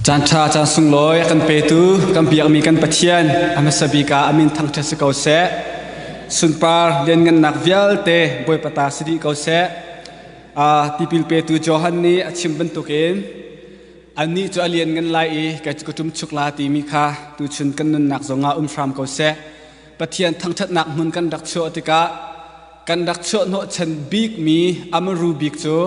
Caanṭha caan sunglawi a kan petu kan biakmi kan Pathian a hmasa bik ah a min thangṭhat si ko seh. Sunpar lianngannak vialte Bawipa ta si dih ko seh. A tipil petu Johan nih a chim bantukin annih cu a lianngan lai i ka ṭum chuk la timi kha tuchun kan nunnak zongah um hram ko seh. Pathian thangṭhatnak hmun kan rak chuah tikah kan rak chuah hnawhchan bikmi a maru bik cu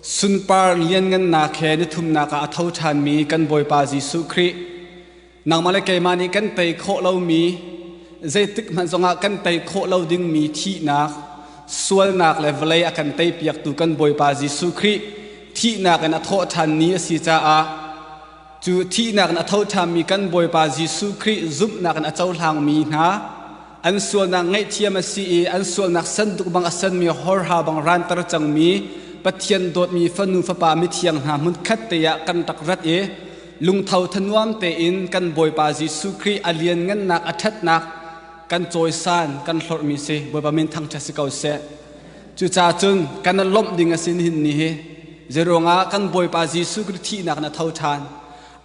Sunpar lianngannak he na thumnak ah a tho ṭhanmi kan Bawipa Jesuh Khrih, nangmah le keimah nih kan tei khawh lomi, zeitikhmanh zongah kan tei khawh lo dingmi thihnak, sualnak le vawlei a kan teipiaktu kan Bawipa Jesuh Khrih thihnak in a thawh ṭhan ni a si caah cu thihnak in a tho ṭhanmi kan Bawipa Jesuh Khrih zumhnak in a cohlangmi hna, an sualnak ngaihthiam a si i an sualnak sanduk bang a sanmi horha bang ranter cangmi Pathian dawtmi fanu fapa mithiang hna hmunkhat te ah kan rak rat i lungtho thanuam tein kan Bawipa Jesuh Khrih a lianngannak a ṭhatnak kan cawisan kan hlorhmi si Bawipa min thangṭhat si ko seh cucaah cun kan lawmh ding a sin hin ni hi zeruangah kan Bawipa Jesuh Khrih thihnak na tho ṭhan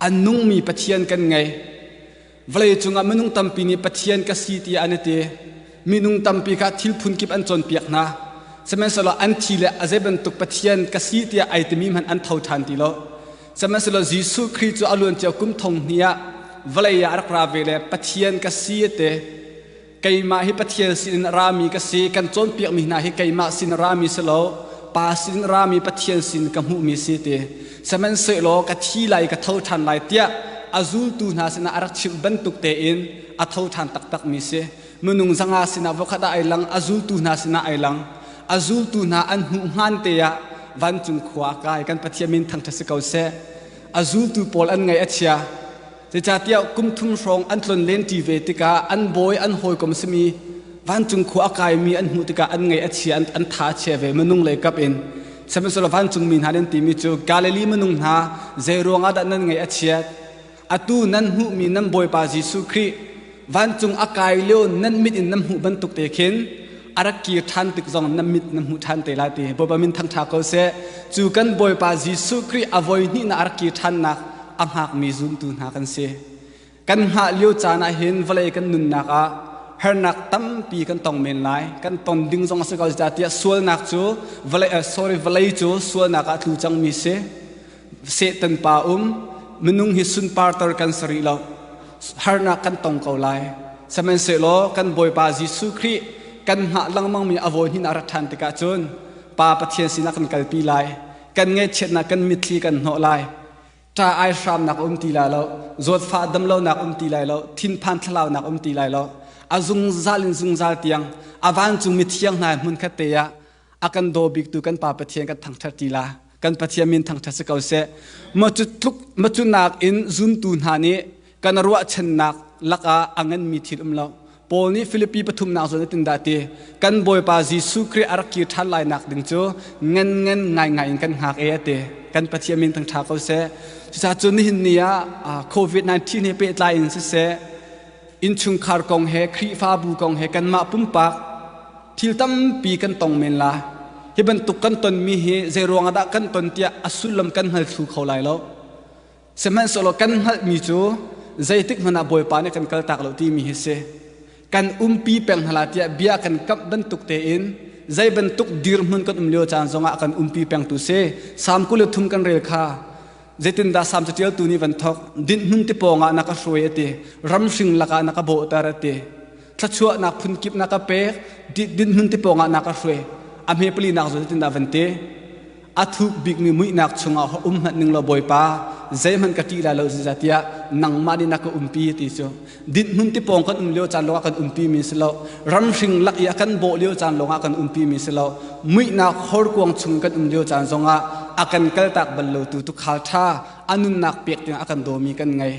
a nungmi Pathian kan ngei vawlei cungah minung tampi nih pathian ka si tiah an i ti minung tampi kha thil phun kip an cawnpiak hna sihmanhsehlaw an thi le a zei bantuk pathian ka si tiah ai timi hmanh an tho ṭhan ti lo sihmanhsehlaw Jesuh Khrih cu a luancia kum thong hnih ah vawlei ah a rak ra ve le pathian ka si a ti keimah hi Pathian sinin a rami ka si kan cawnpiakmi hna hi keimah sin a rami si lo pa sinin a rami Pathian sin ka hmuhmi si ti sihmanhsehlaw ka thi lai ka tho ṭhan lai tiah a zultu hna sinah a rak chimh bantuk tein a tho ṭhan taktakmi si minung zanga sinah vokhat ah ai lang a zultu hna sinah ai lang a zultu hna an hmuh hmaan te ah vancung khua kai kan Pathian min thangṭhat si ko seh a zultu pawl an ngaih a chia Zeicahtiah kum thum hrawng an tlon lenṭi ve tikah an bawi an hawikom a simi vancung khua a kaimi an hmuh tikah an ngaih a chia an tha a chia ve minung lei kap in sihmanhsehlaw vancung mi hna nan timi cu Galilee minung hna zei ruangah dah nan ngaih a chiat atu nan hmuhmi nan Bawipa Jesuh Khrih vancung a kai lio nan mit in nan hmuh bantuk te khin a rak kir ṭhan tik zong nan mit nan hmuh ṭhan te lai ti Bawipa min thangṭha ko seh cu kan Bawipa Jesuh Khrih a voi hnihnak a rak kir ṭhannak a hngakmi zuntu hna kan si kan hngah lio caan ah hin vawlei kan nunnak ah hernak tampi kan tong men lai kan ton ding zong a si ko tiah sualnak cu vawlei sorry vawlei cu sualnak ah tlu cangmi si Satan pa um minung hi sunparter kan si rih lo harnak kan tong ko lai sihmanhsehlaw kan bawipa Jesuh Khrih kan hngah lengmangmi a vawi hnin a rat ṭhan tikah cun pa Pathian sinah kan kalpi lai kan ngaihchiatnak kan mitthli kan hnawh lai ṭa ai hramnak um ti lai lo zawtfa damlonak um ti lai lo thinphan thlalaunak um ti lai lo a zungzal in zungzal tiang a vancung mithiang hna hmun khat te ah a kan daw biktu kan pa Pathian kan thangṭhat tila kan Pathian min thangṭhat si ko seh macu tluk macunak in zuntu hna nih kan ruahchannak lakah a nganmi thil um lo Paul nih Filipi pathumnak zawn tin dah ti kan Bawipa Jesuh Khrih a rak kir ṭhan lainak ding cu ngan ngan ngaingai in kan hngak e a ti kan Pathian min thangṭha ko seh cucaah cu nihin ni ah COVID-19 he pehtlai in siseh innchungkhar kong he Khrihfabu kong he kanmah pumpak Thil tampi kan tong men la. Hi bantuk kan tonmi hi zeiruang ah dah kan ton tiah a sullam kan hngal thlu kho lai lo. Sihmanhsehlaw kan hngalhmi cu zeitik hmanh ah Bawipa nih kan kaltak lo timi hi si. Kan umpi peng hna la tiah bia kan kamh bantuk tein zei bantuk dirhmun kan um lio caan zongah kan umpi pengtu si. Sam kul le thum kan rel kha zeitindah Sam catialtu nih van thawk dinhmun ti pawngah na ka hruai a ti ramhring lakah na ka bawhter a ti thluachuahnak phunkip nak a pek dinhmun te pawngah nak a hruai a hme pali nak zul tin da van te a thuk bikmi muihnak chungah um hmat ning lo bawipa zeihman ka ti la lo ziza tia nangma ni nak ka umpi ti chu din mun ti pong kan um lio chan lo kan umpi mi si lo ram hring lak i kan bo lio chan lo kan umpi mi si lo muihna khor kuang chung kan um lio chan zonga akan kal tak bal lo tu tu khal tha anun nak pek ding akan do mi kan ngai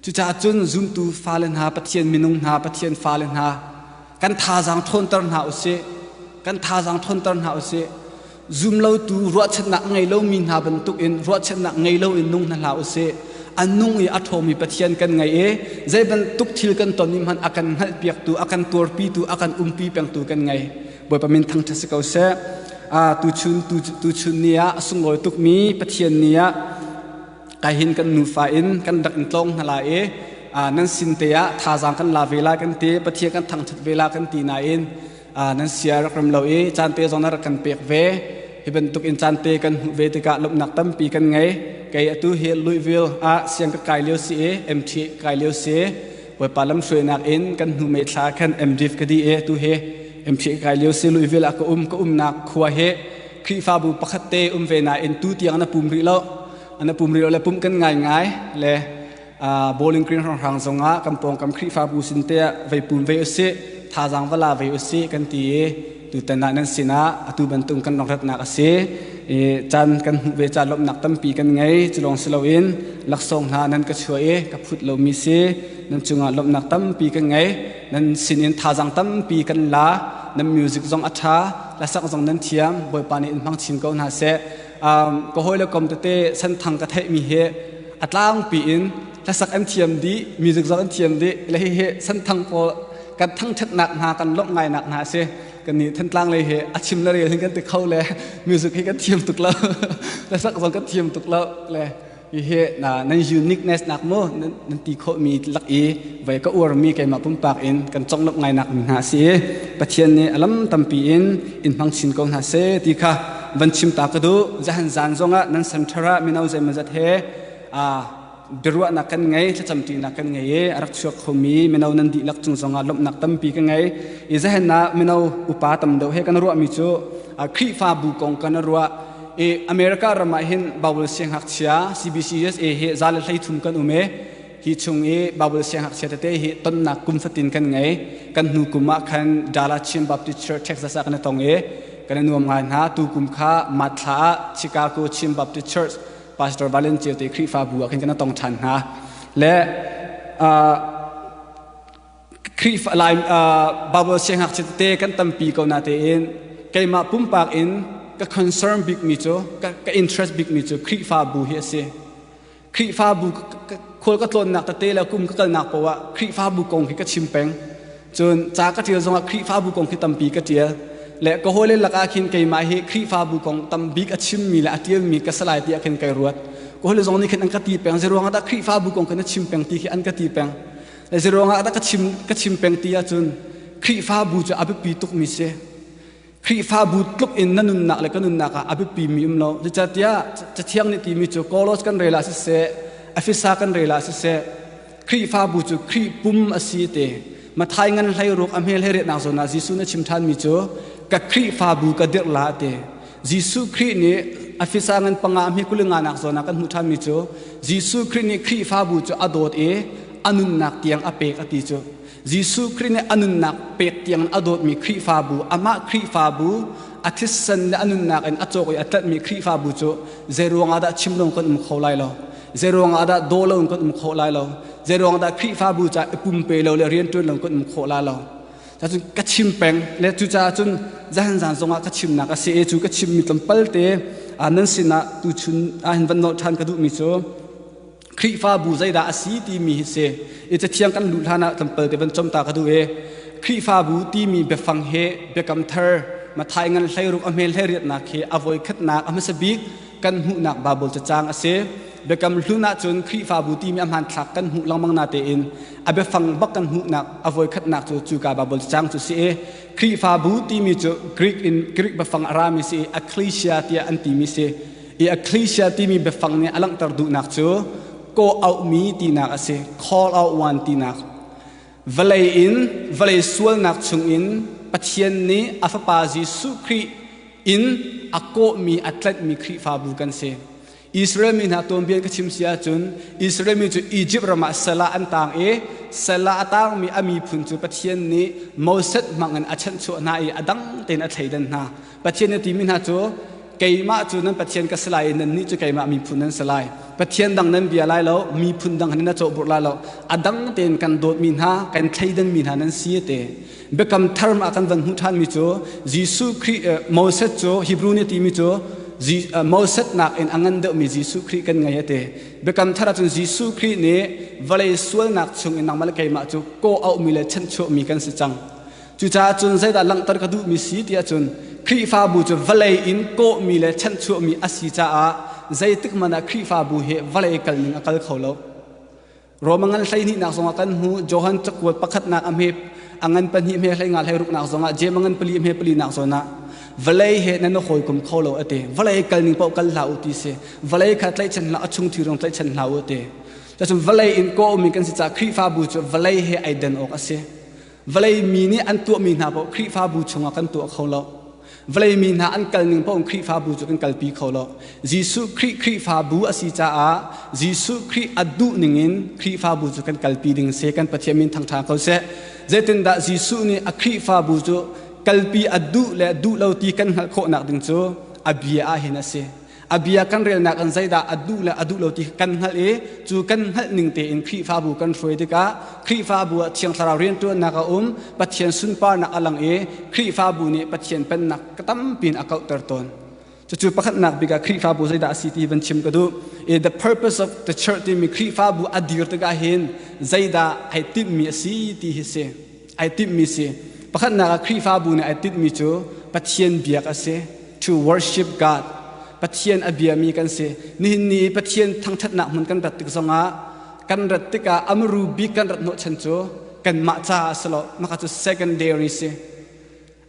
Cucaah cun zumtu fale hna, Pathian minung hna, Pathian fale hna, kan thazaang ṭhawnter hna u sih. Kan thazaang ṭhawnter hna u sih. Zumlotu ruahchannak ngei lomi hna bantukin ruahchannak ngei loin nung hna hlah u sih. A nung i a ṭhawmi Pathian kan ngei i zei bantuk thil kan ton i hmanh a kan hngalhpiaktu, a kan tuarpitu, a kan umpi pengtu kan ngei. Bawipa min thangṭhat si ko seh. tuchun, tuchun ni ah a sunglawi tukmi Pathian ni ah kai hin kan nufa in kan rak in tlawng hna lai i nan sin te ah thazaang kan la ve la kan ti pathian kan thangthat ve la kan ti nain nan sia rak ram lo i caan te zong na rak kan pek ve hi bantuk in caan te kan hmuh ve tikah lomnak tampi kan ngei kei atu hi luivil ah siang ka kai lio si i MT kai lio si bawipa lam hruainak in kan hnu mei thla khan MDiv ka di e tu he MT kai lio si luivil ah ka um ka umnak khua he Khrihfabu pakhatte um ve nain tu tiang na pum rih lo na pum rih lo le pumh kan ngaingai le bowling green hranghrang zongah kan pawngkam Khrihfabu sin te ah vei pum ve usih thazaang va la ve usih kan ti i tutan ah nan sinah atu bantuk kan rongratnak a si i caan kan hmuh ve caan lawmhnak tampi kan ngei cu lawng si loin laksawng hna nan ka chuah i ka phut lomi si nan cungah lawmhnak tampi kan ngei nan sinin thazang tampi kan la nan music zong a ṭha hlasak zong nan thiam bawipa nih in hmang chin ko hna seh ka hawi le kom tete santhang ka theihmi hi a tlangpi in hlasak an thiam dih music zong an thiam dih le hihi santhang pawl kan thangṭhatnak hna kan lawmh ngainak hna si kan nih thantlang lei hi a chim le rel hin kan ti kho le music hi kan thiam tuk lo hlasak zong kan thiam tuk lo le Hihi na nan uniqueness nak mu nan ti khawhmi lak i voi ka uarmi keimah pumpak in kan conglawmh ngainak mi hna si i Pathian nih a lam tampi in in hmang chin ko hna se ti kha van chimta ka duh zahan zan zongah nan center ah mino zeimazat he a biaruahnak kan ngei thlacamṭinak kan ngei i a rak chuak khomi mino nan dihlak cung zongah lawmhnak tampi ka ngei i zahen ah mino upa tam deuh he kan ruahmi cu Khrihfabu kong kan ruah E, America ram ah hin Babul siangngakchia CBCUSA hi za le hlei thum kan um i hi chung i Babul siangngakchia tete hi tonnak kum fatin kan ngei kan hnu kum ah khan Dala Chin Baptist Church Texas ah kan i tong i kan i nuam ngai hna tu kum kha Matthla ah Chicago Chin Baptist Church Pastor Valen Ceuti Khrihfabu ah khin kan i tong ṭhan hna le uh, Khrihfa Lai Baibal siangngakchia te kan tampi ko natein keimah pumpak in ka concern bikmi cu ka, ka interest bikmi cu Khrihfabu hi a si. Khrihfabu khual ka tlawnnak tete le kum ka kalnak poah Khrihfabu kong hi ka chim peng. Cun ca ka tial zongah Khrihfabu kong hi tampi ka tial. Le ka hawile lakah khin keimah hi Khrihfabu kong tam bik a chimmi le a tialmi ka si lai ti ah khin kai ruat. Ka hawile zong nih khin an ka ti peng. Zeiruangah dah Khrihfabu kong khin a chim peng ti khi an ka ti peng. Ezi ruangah dah ka chim ka chim peng ti ahcun Khrihfabu cu a biapi tukmi si. Khrihfabu tluk in na nunnak le ka nunnak ah a biapi mi um lo. Zeicahtiah Cathiang nih timi cu Kolos kan rel ah siseh, Efesa kan rel ah siseh, Khrihfabu cu Khrih pum a si te. Mathai ngan hlei ruak a hmel he riatnak zawn ah Jesuh nih a chim ṭhanmi cu ka Khrihfabu ka dirh la te. Jesuh Khrih nih a fisa ngan panga a hmi kul i nganak zawn ah kan hmuh ṭhanmi cu Jesuh Khrih nih Khrihfabu cu a dawt i a nunnak tiang a pek a ti cu. Jesuh Khrih nih a nunnak pek tiangin a dawtmi Khrihfabu, amah Khrihfabu a thisen le a nunnak in a cawk i a tlanhmi Khrihfabu cu zei ruangah dah chim loin kan um kho lai lo? Zei ruangah dah daw loin kan um khawh lai lo? Zei ruangah dah Khrihfabu caah i pumpe lo le rianṭuan loin kan um khawh lai lo? Cacun ka chim peng le cucaah cun zaanzaan zongah ka chimnak a si i cu ka chimmi tlawmpalte nan sinah tuchun ah hin van nolh ṭhan ka duhmi cu Khrihfabu zeidah a si timi hi si i cathiang kan luh hlanah tlawmpalte van com ta ka duh i Khrihfabu timi biafang hi biakam thar Mathai ngan hlei ruk a hmel hlei riatnak hi a voi khatnak a hmasa bik kan hmuhnak Baibal cacang a si. Biakam hlun ahcun Khrihfabu timi a hmanthlak kan hmuh lengmang natein a biafang bak kan hmuhnak a voikhatnak cu cuka Baibal cacang cu si i Khrihfabu timi cu Greek in Greek biafang a rami si i ecclesia tiah an timi si. I ecclesia timi biafang nih a langhter duhnak cu kawh auhmi tinak a si, call out one tinak. Vawlei in vawlei sualnak chungin Pathian nih a Fapa Jesuh Khrih in a kawhmi a tlanhmi Khrihfabu kan si. Israel mi hna tuanbia ka chim si ahcun Israel mi cu Izipt ram ah salah an taang i salah a taangmi a miphun cu Pathian nih Moses hmangin a chanhchuah hna i a dang tein a thleidan hna. Pathian na timi hna cu keimah cu nan Pathian ka si lai i nannih cu keimah miphun nan si lai. Pathian dang nan bia lai lo, miphun dang in na cawhburh lai lo. A dang tein kan dawtmi hna, kan thleidanmi hna nan si te. Biakam Thar ah kan van hmuh ṭhanmi cu Jesuh Khrih, Moses cu Hebrew nih a timi cu Moses nakin a ngan deuhmi Jesuh Khrih kan ngei a ti. Biakam Thar ahcun Jesuh Khrih nih vawlei sualnak chung in nangmah le keimah cu kawh auhmi le chanhchuahmi kan si cang. Cucaah cun zeidah langhter ka duhmi si ti ahcun Khrihfabu cu vawlei in kawhmi le chanhchuahmi a si caah zeitik hmanh ah Khrihfabu hi vawlei kal ning a kal kho lo. Rom a ngan hleihnihnak zongah kan hmu. Johan cakuat pakhatnak a hme a ngan pahnih hme hleinga hleiruknak zongah jem a ngan pali hme palinak zawnah vawlei he nan i hawikom kho lo a ti. Vawlei kal ning paoh kal hlah u ti si. Vawlei kha tlaihchan hlah, a chung thi rong tlaihchan hlah u ti. Cacun vawlei in kawhmi kan si caah Khrihfabu cu vawlei he ai den awk a si. vawlei mi nih an tuahmi hna paoh Khrihfabu chungah kan tuah kho lo. Vawlei mi hna an kal ning paoh Khrihfabu cu kan kalpi kho lo. Jesuh Khrih Khrihfabu a si caah Jesuh Khrih a duh ningin Khrihfabu cu kan kalpi ding a si. Kan Pathian min thangṭha ko seh. Zeitindah Jesuh nih a Khrihfabu cu kalpi a duh le duh lo ti kan hngalh khawhnak ding cu a bia ahhin a si. a bia kan relnak in zeidah a duh le a duh lo ti kan hngalh i cu kan hngalh ning tein Khrihfabu kan hruai tikah Khrihfabu ah thiang thlarau rianṭuannak a um Pathian sunparnak a lang i Khrihfabu nih Pathian pennak ka tampin a kauhter tawn cucu pakhatnak bik ah Khrihfabu zeidah a si ti van chim ka duh i the purpose of the church timi Khrihfabu a dir tikah hin zeidah ai timhmi a si ti hi si ai timhmi si. Pakhatnak ah Khrihfabu nih ai tinhmi cu Pathian biak a si. To worship God. Pathian a biami kan si. Nihin ni Pathian thangṭhatnak hmun kan rat tik zongah kan rat tikah amru bik kan rat hnawh chan cu kanmah caah a si lo. Mah cu secondary si.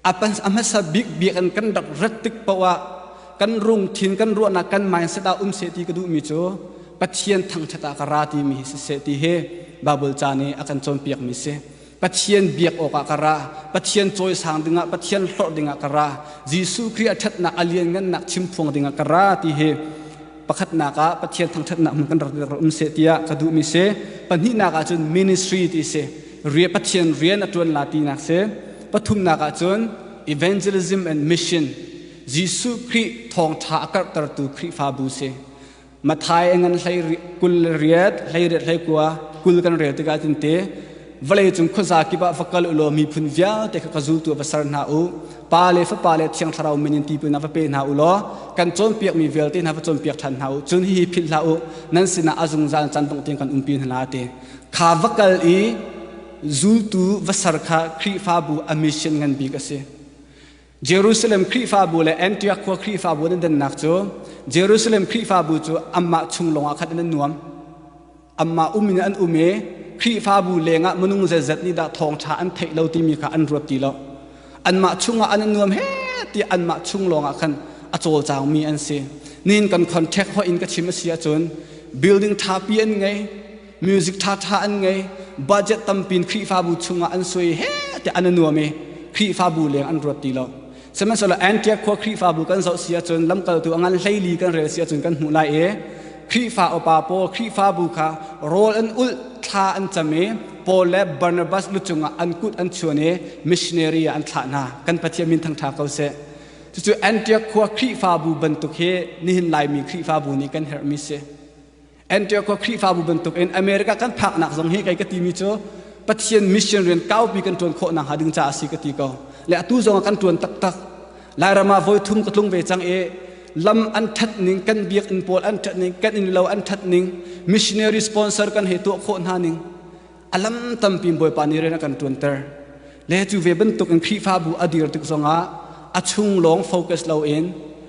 a hmasa bik bik in kan rak rat tik paoh ah kan rungthin kan ruahnak kan mindset ah um se ti ka duhmi cu pathian thangthat ah ka ra timi hi si se ti hi bible ca nih a kan cawnpiakmi si pathian biak awk ah ka ra pathian cawisang dingah pathian hlorh dingah ka ra jesuh kri a thatnak a lianngannak chimphuang dingah ka ra ti hi pakhatnak ah pathian thangthatnak hmun kan rak um se tiah ka duhmi si pahnihnak ah cun ministry ti si Pathian rian a ṭuan la tinak si. Pathumnak ahcun evangelism and mission Jesuh Khrih thawngṭha a karhtertu Khrihfabu si. Mathai a ngan hlei kul le riat, hlei riat hlei kua kul kan rel tikah cun te vawleicung khuaza kip ah va kal u law miphun vialte kha ka zultu va ser hna u pa le fapa le thiang thlarau min in tipil na va pe hna u law kan cawnpiakmi vialte hna va cawnpiak ṭhan hna u cun hihi philh hlah u nan sinah a zungzal can dongh tiang kan umpi hna te Kha va kal i zultu va ser kha Khrihfabu a mission ngan bik a si. Jerusalem Khrihfabu le Antioch khua Khrihfabu an dannak cu Jerusalem Khrihfabu cu anmah chung lawngah khan an nuam. Anmah um in an um i Khrihfabu lengah minung zeizat nih dah thawngṭha an theih lo timi kha an ruat ti lo. anmah chungah an nuam he tiah anmah chung lawngah khan a cawlcaangmi an si nin kan contract hoih in ka chim a si ahcun building ṭhapi an ngei music ṭhaṭha an ngei budget tampi in khrihfabu chungah an sui he tiah an nuam i khrihfabu leng an ruat ti lo sihmanhsehlaw antiak khua khrihfabu kan zoh si ahcun lamkaltu a ngan hleili kan rel si ahcun kan hmuh lai i Khrihfa upa paw Khrihfabu kha rawl an ulh, thla an cam i Paul le Barnabas lu cungah an kut an chuan i missionary ah an thlah hna. Kan Pathian min thangṭha ko seh. Cucu Antiok khua Khrihfabu bantuk hi nihin Laimi Khrihfabu nih kan herhmi si. Antiok khua Khrihfabu bantukin America kan phaknak zong hi kei ka timi cu Pathian mission rian kaupi kan ṭuan khawh nakhnga ding caah a si ka ti ko. Le atu zong ah kan ṭuan taktak. Lairam ah voi thum ka tlung ve cang i lam an ṭhat ning kan biakinn pawl an ṭhat ning kan innlo an ṭhat ning missionary sponsor kan he tuah khawh hna ning a lam tampi bawipa nih rian a kan ṭuanter le cu ve bantuk in Khrihfabu a dir tik zongah a chung lawng focus loin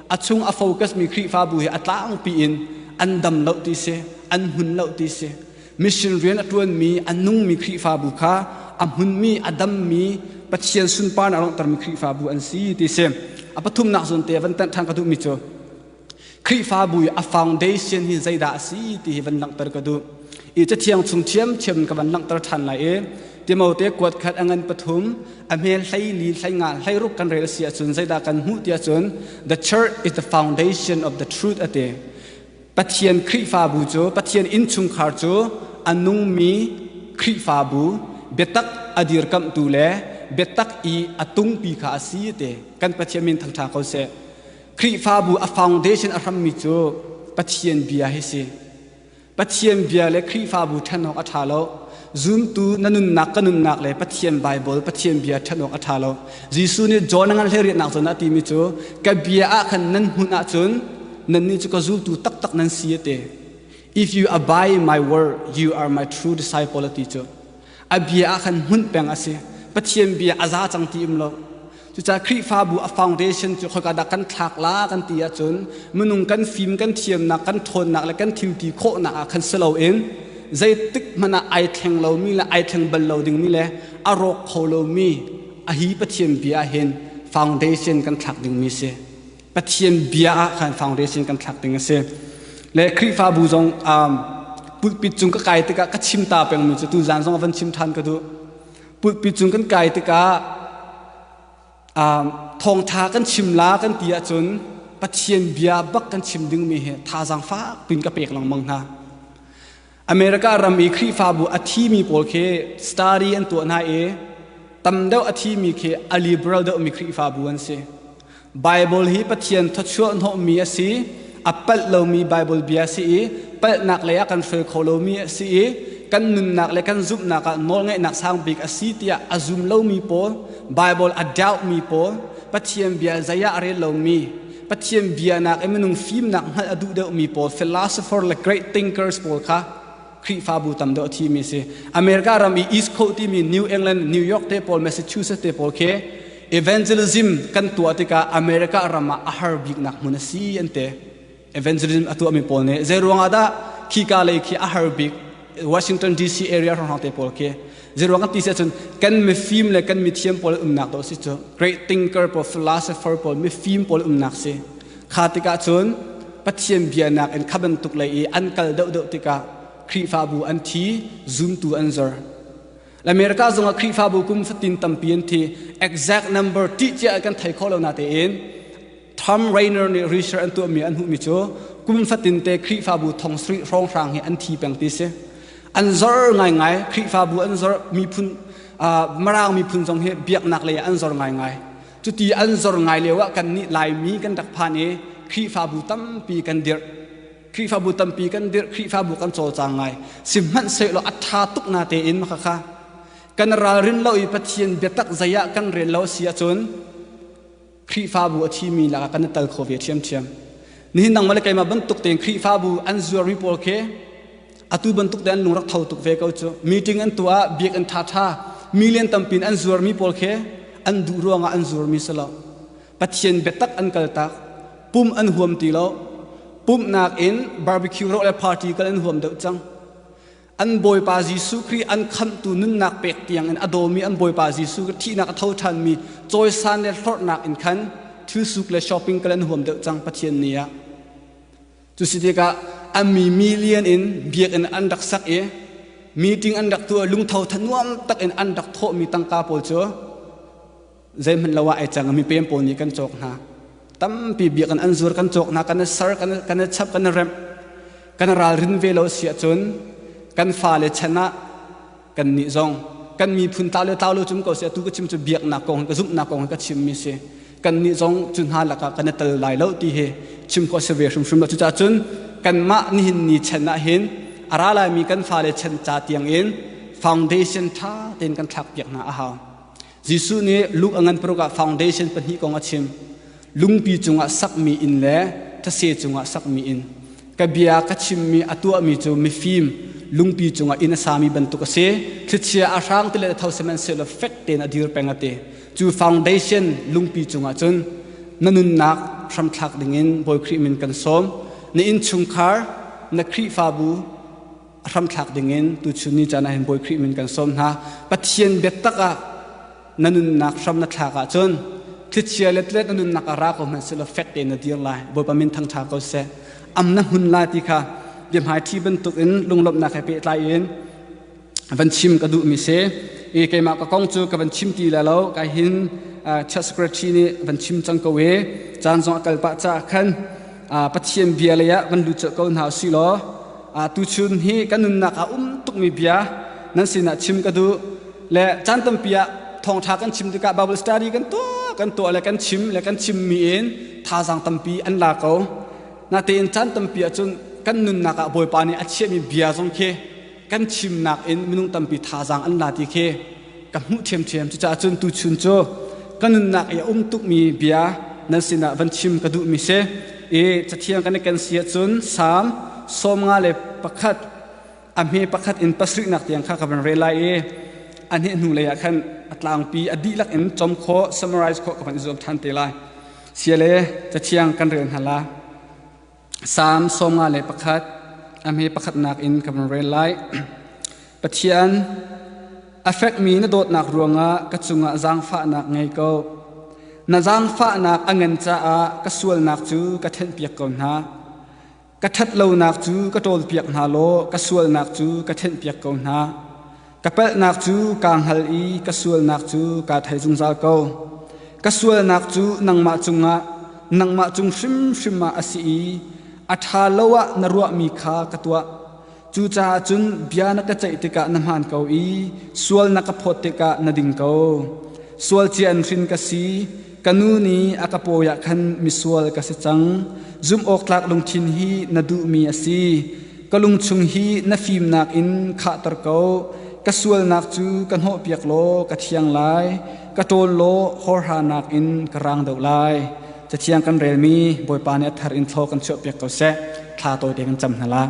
a chung a focusmi Khrihfabu hi a tlangpi in an dam lo ti si an hmun lo ti si Mission rian a ṭuanmi a nungmi Khrihfabu kha a hmunmi, a dammi, Pathian sunparnak langhtermi Khrihfabu an si ti si. A pathumnak zawnte a van tanh ṭhan ka duhmi cu Khrihfabu i a foundation hi zeidah a si ti hi van langhter ka duh. I cathiang chung ṭhiamṭhiam in ka van langhter ṭhan lai i Timote kuat khat a ngan pathum a hmel hleili hleinga hleiruk kan rel a si ahcun zeidah kan hmuh ti ahcun the church is the foundation of the truth a ti. Pathian Khrihfabu cu Pathian innchungkhar cu a nungmi Khrihfabu biatak a dirkamhtu le biatak i a tungpi kha a si ti kan Pathian min thangṭha ko seh. Khrihfabu a foundation a hrammi cu Pathian bia hi si. Pathian bia le Khrihfabu ṭhenawk a ṭha lo. Zumtu na nunnak ka nunnak le Pathian Baibal Pathian bia ṭhan awk a ṭha lo. Jesuh nih John a ngan hleriahnak cun a timi cu ka bia ah khan nan hmuh ahcun nannih cu ka zultu taktak nan si a ti. If you abide in my word, you are my true disciple a ti cu. A bia ah khan hmunh peng a si. Pathian bia a za cang ti um lo. Cucaah Khrihfabu a foundation cu khoika dah kan thlak la kan ti ahcun minung kan fim, kan thiamnak, kan ṭhawnnak le kan thilti khawhnak ah khan si loin zeitik hmanh ah ai thleng lomi le ai thleng bal lo dingmi le a rawk kho lomi a hi Pathian bia ah hin foundation kan thlak dingmi si. Pathian bia ah khan foundation kan thlak ding a si. Le Khrihfabu zong um, pulpit cung ka kai tikah ka chim ta pengmi cu tuzan zong a van chim ṭhan ka duh. pulpi cung kan kai tikah thawngtha kan chim la kan ti ahcun pathian bia bak kan chim dingmi hi thazaang fak piin ka pek lengmang hna america ram i khrihfabu a thimi pawl khi study an tuah hna i tam deuh a thimi khi a liberal deuhmi khrihfabu an si Baibal hi Pathian thawchuah hnawhmi a si i a palh lomi Baibal bia a si i palhnak lei ah kan hruai kho lomi a si i kan nunnak le kan zumhnak ah nawlngaihnak sang bik a si tiah a zum lomi pawl Baibal a doubtmi pawl Pathian bia zei ah a rel lomi Pathian bia nakin minung fimnak hngalh a duh deuhmi pawl philosopher le great thinkers pawl kha Khrihfabu tam deuh a thimi si. America ram i East Coast timi New England, New York te pawl, Massachusetts te pawl khi evangelism kan tuah tikah America ram ah a har biknak hmun a si an te. Evangelism a tuahmi pawl nih zei ruangah dah khika lei khi a har bik Washington DC area hrawng te pawl khi Zeiruang kan ti si ahcun kan mifim le kan mithiam pawl umnak dawh si cu great thinker pawl philosopher pawl mifim pawl umnak si kha tikah cun Pathian bia nakin kha bantuk lei i an kal deuhdeuh tikah Khrihfabu an thi zumtu an zor America zongah Khrihfabu kum fatin tampi an thi exact number ṭih cia kan thei kho lo na tein Tom Rainer nih research an tuahmi an hmuhmi cu kum fatin te Khrihfabu thong sarih hrawnghrang hi an thi peng ti si. An zor ngaingai Khrihfabu an zor miphun Mirang miphun zong hi biaknak lei ah an zor ngaingai. Cuti an zor ngai lio ah kannih Laimi kan rak phan i Khrihfabu tampi kan dirh. Khrihfabu tampi kan dirh, Khrihfabu kan cawlcang ngai. Sihmanhsehlaw a ṭha tuk na tein makhakha kan ralrin lo i Pathian biatak zei ah kan rel lo a si ahcun Khrihfabu a thimi lakah kan i tel kho ve ṭhiamṭhiam. Nihin nang mahle keimah bantuk tein Khrihfabu an zuarmi pawl khi atu bantuk tein an lungrak tho tuk ve ko cu. Meeting an tuah ah biak an ṭhaṭha. Milian tampi in an zuarmi pawl khi an duh ruangah an zuarmi si lo. Pathian biatak an kaltak. Pum an huam ti lo. Pumhnak in barbecue rawh le party kal an huam deuh cang. an Bawipa Jesuh Khrih an khamhtu nunnak pek tiangin a dawmi an Bawipa Jesuh Khrih thihnak a tho ṭhanmi cawisan le hlorhnak in khan thilsuk le shopping kal an huam deuh cang Pathian ni ah. Cu si tikah a mi million in biakinn an rak sak i meeting an rak tuah lungtho tha nuam tak in an rak thawhmi tangka pawl cu zeihmanh lo ah ai cang mi pem pawl nih kan cawk hna tampi biak an zur kan cawk hna kan sar kan kan chap kan rem kan ralrin ve lo si ahcun kan fa le chan ah kan nih zong kan miphun ta le ta lo cum ko si tu ka chim cu biaknak kong ka zumhnak kong ka chim mi si kan nih zong cu hna lakah kan tal lai lo ti hi chim ko se ve hrimhrim lo cucah cun kan mah nihin ni chan ah hin ara lai mi kan fa le chan ca tiang in foundation tha ten kan thlak piak hna a hau Jesuh nih Luke a ngan paruk ah foundation pahnih kong a chim. Lungpi cungah sakmi inn le thase cungah sakmi inn. Ka bia ka chimmi a tuahmi cu mifim lungpi cungah inn a sami bantuk a si. Thlichia a hrang ti le tho sihmanhsehlaw fek tein a dir peng a ti. Cu foundation lungpi cungah cun na nunnak hramthlak dingin Bawi Khrih min kan sawm. Na innchungkhar, na Khrihfabu, a hramthlak dingin tuchun ni caan ah hin Bawi Khrih min kan sawm hna. Pathian biatak ah na nunnak hram na thlak ahcun thlichia letlet na nunnak a ra ko hmanh silo fek tein na dir lai. Bawipa min thangtha ko seh. Am na hun lai ti kha biahmaithi bantukin lunglawmhnak he pehtlai in van chim ka duhmi si. I keimah ka kong cu ka van chim ti le lo kai hin chief secretary nih van chim cang ko i caan zong a kal pah caah khan Pathian bia lei ah van lut colh ko hna usih law tuchun hi kan nunnak ah um tukmi bia nan sinah chim ka duh le caan tampi ah thawngṭha kan chim tikah Bible study kan tuah kan tuah le kan chim le kan chimmi in thazaang tampi an la ko natein caan tampi ahcun kan nunnak ah Bawipa nih a chiahmi bia zong khi kan thimnak in minung tampi thazaang an la ti khi ka hmuh ṭhiamṭhiam cucaah cun tuchun cu ka nunnak i a um tukmi bia nan sinah van chim ka duhmi si i cathiang kan i ken si ahcun salm sawm nga le pakhat a hme pakhat in pasrihnak tiang kha ka van rel lai i a hneh hnu lei ah khan a tlangpi a dihlak in com khawh summarize khawh ka van i zuam ṭhan te lai sia le cathiang kan rel hna la Salm sawmnga le pakhat a hme pakhatnak in ka van rel lai. Pathian, a fekmi na dawtnak ruangah ka cungah zaangfahnak ngei ko. Na zaangfahnak a ngan caah ka sualnak cu ka thenhpiak ko hna. Ka ṭhat lonak cu ka ṭawlpiak hna law ka sualnak cu ka thenhpiak ko hna. Ka pelhnak cu kaa hngal i ka sualnak cu kaa thei zungzal ko. Ka sualnak cu nangmah cungah nangmah cung hrimhrim ah a si i a ṭha lo ah na ruahmi kha ka tuah. Cucaah cun bia na ka ceih tikah na hmaan ko i sual na ka phawt tikah na ding ko. Sual cia in hrin ka si. Ka nu nih a ka pawi ah khan misual ka si cang. Zumhawktlak lungthin hi na duhmi a si. Ka lungchung hi na fimnak in khahter ko. Ka sualnak cu ka hnawhpiak law ka thiang lai. Ka ṭawl law horhanak in ka rang deuh lai. Cathiang kan relmi Bawipa nih a thar in thlaw kan chuahpiak ko seh. Thla tawite kan cam hna lai.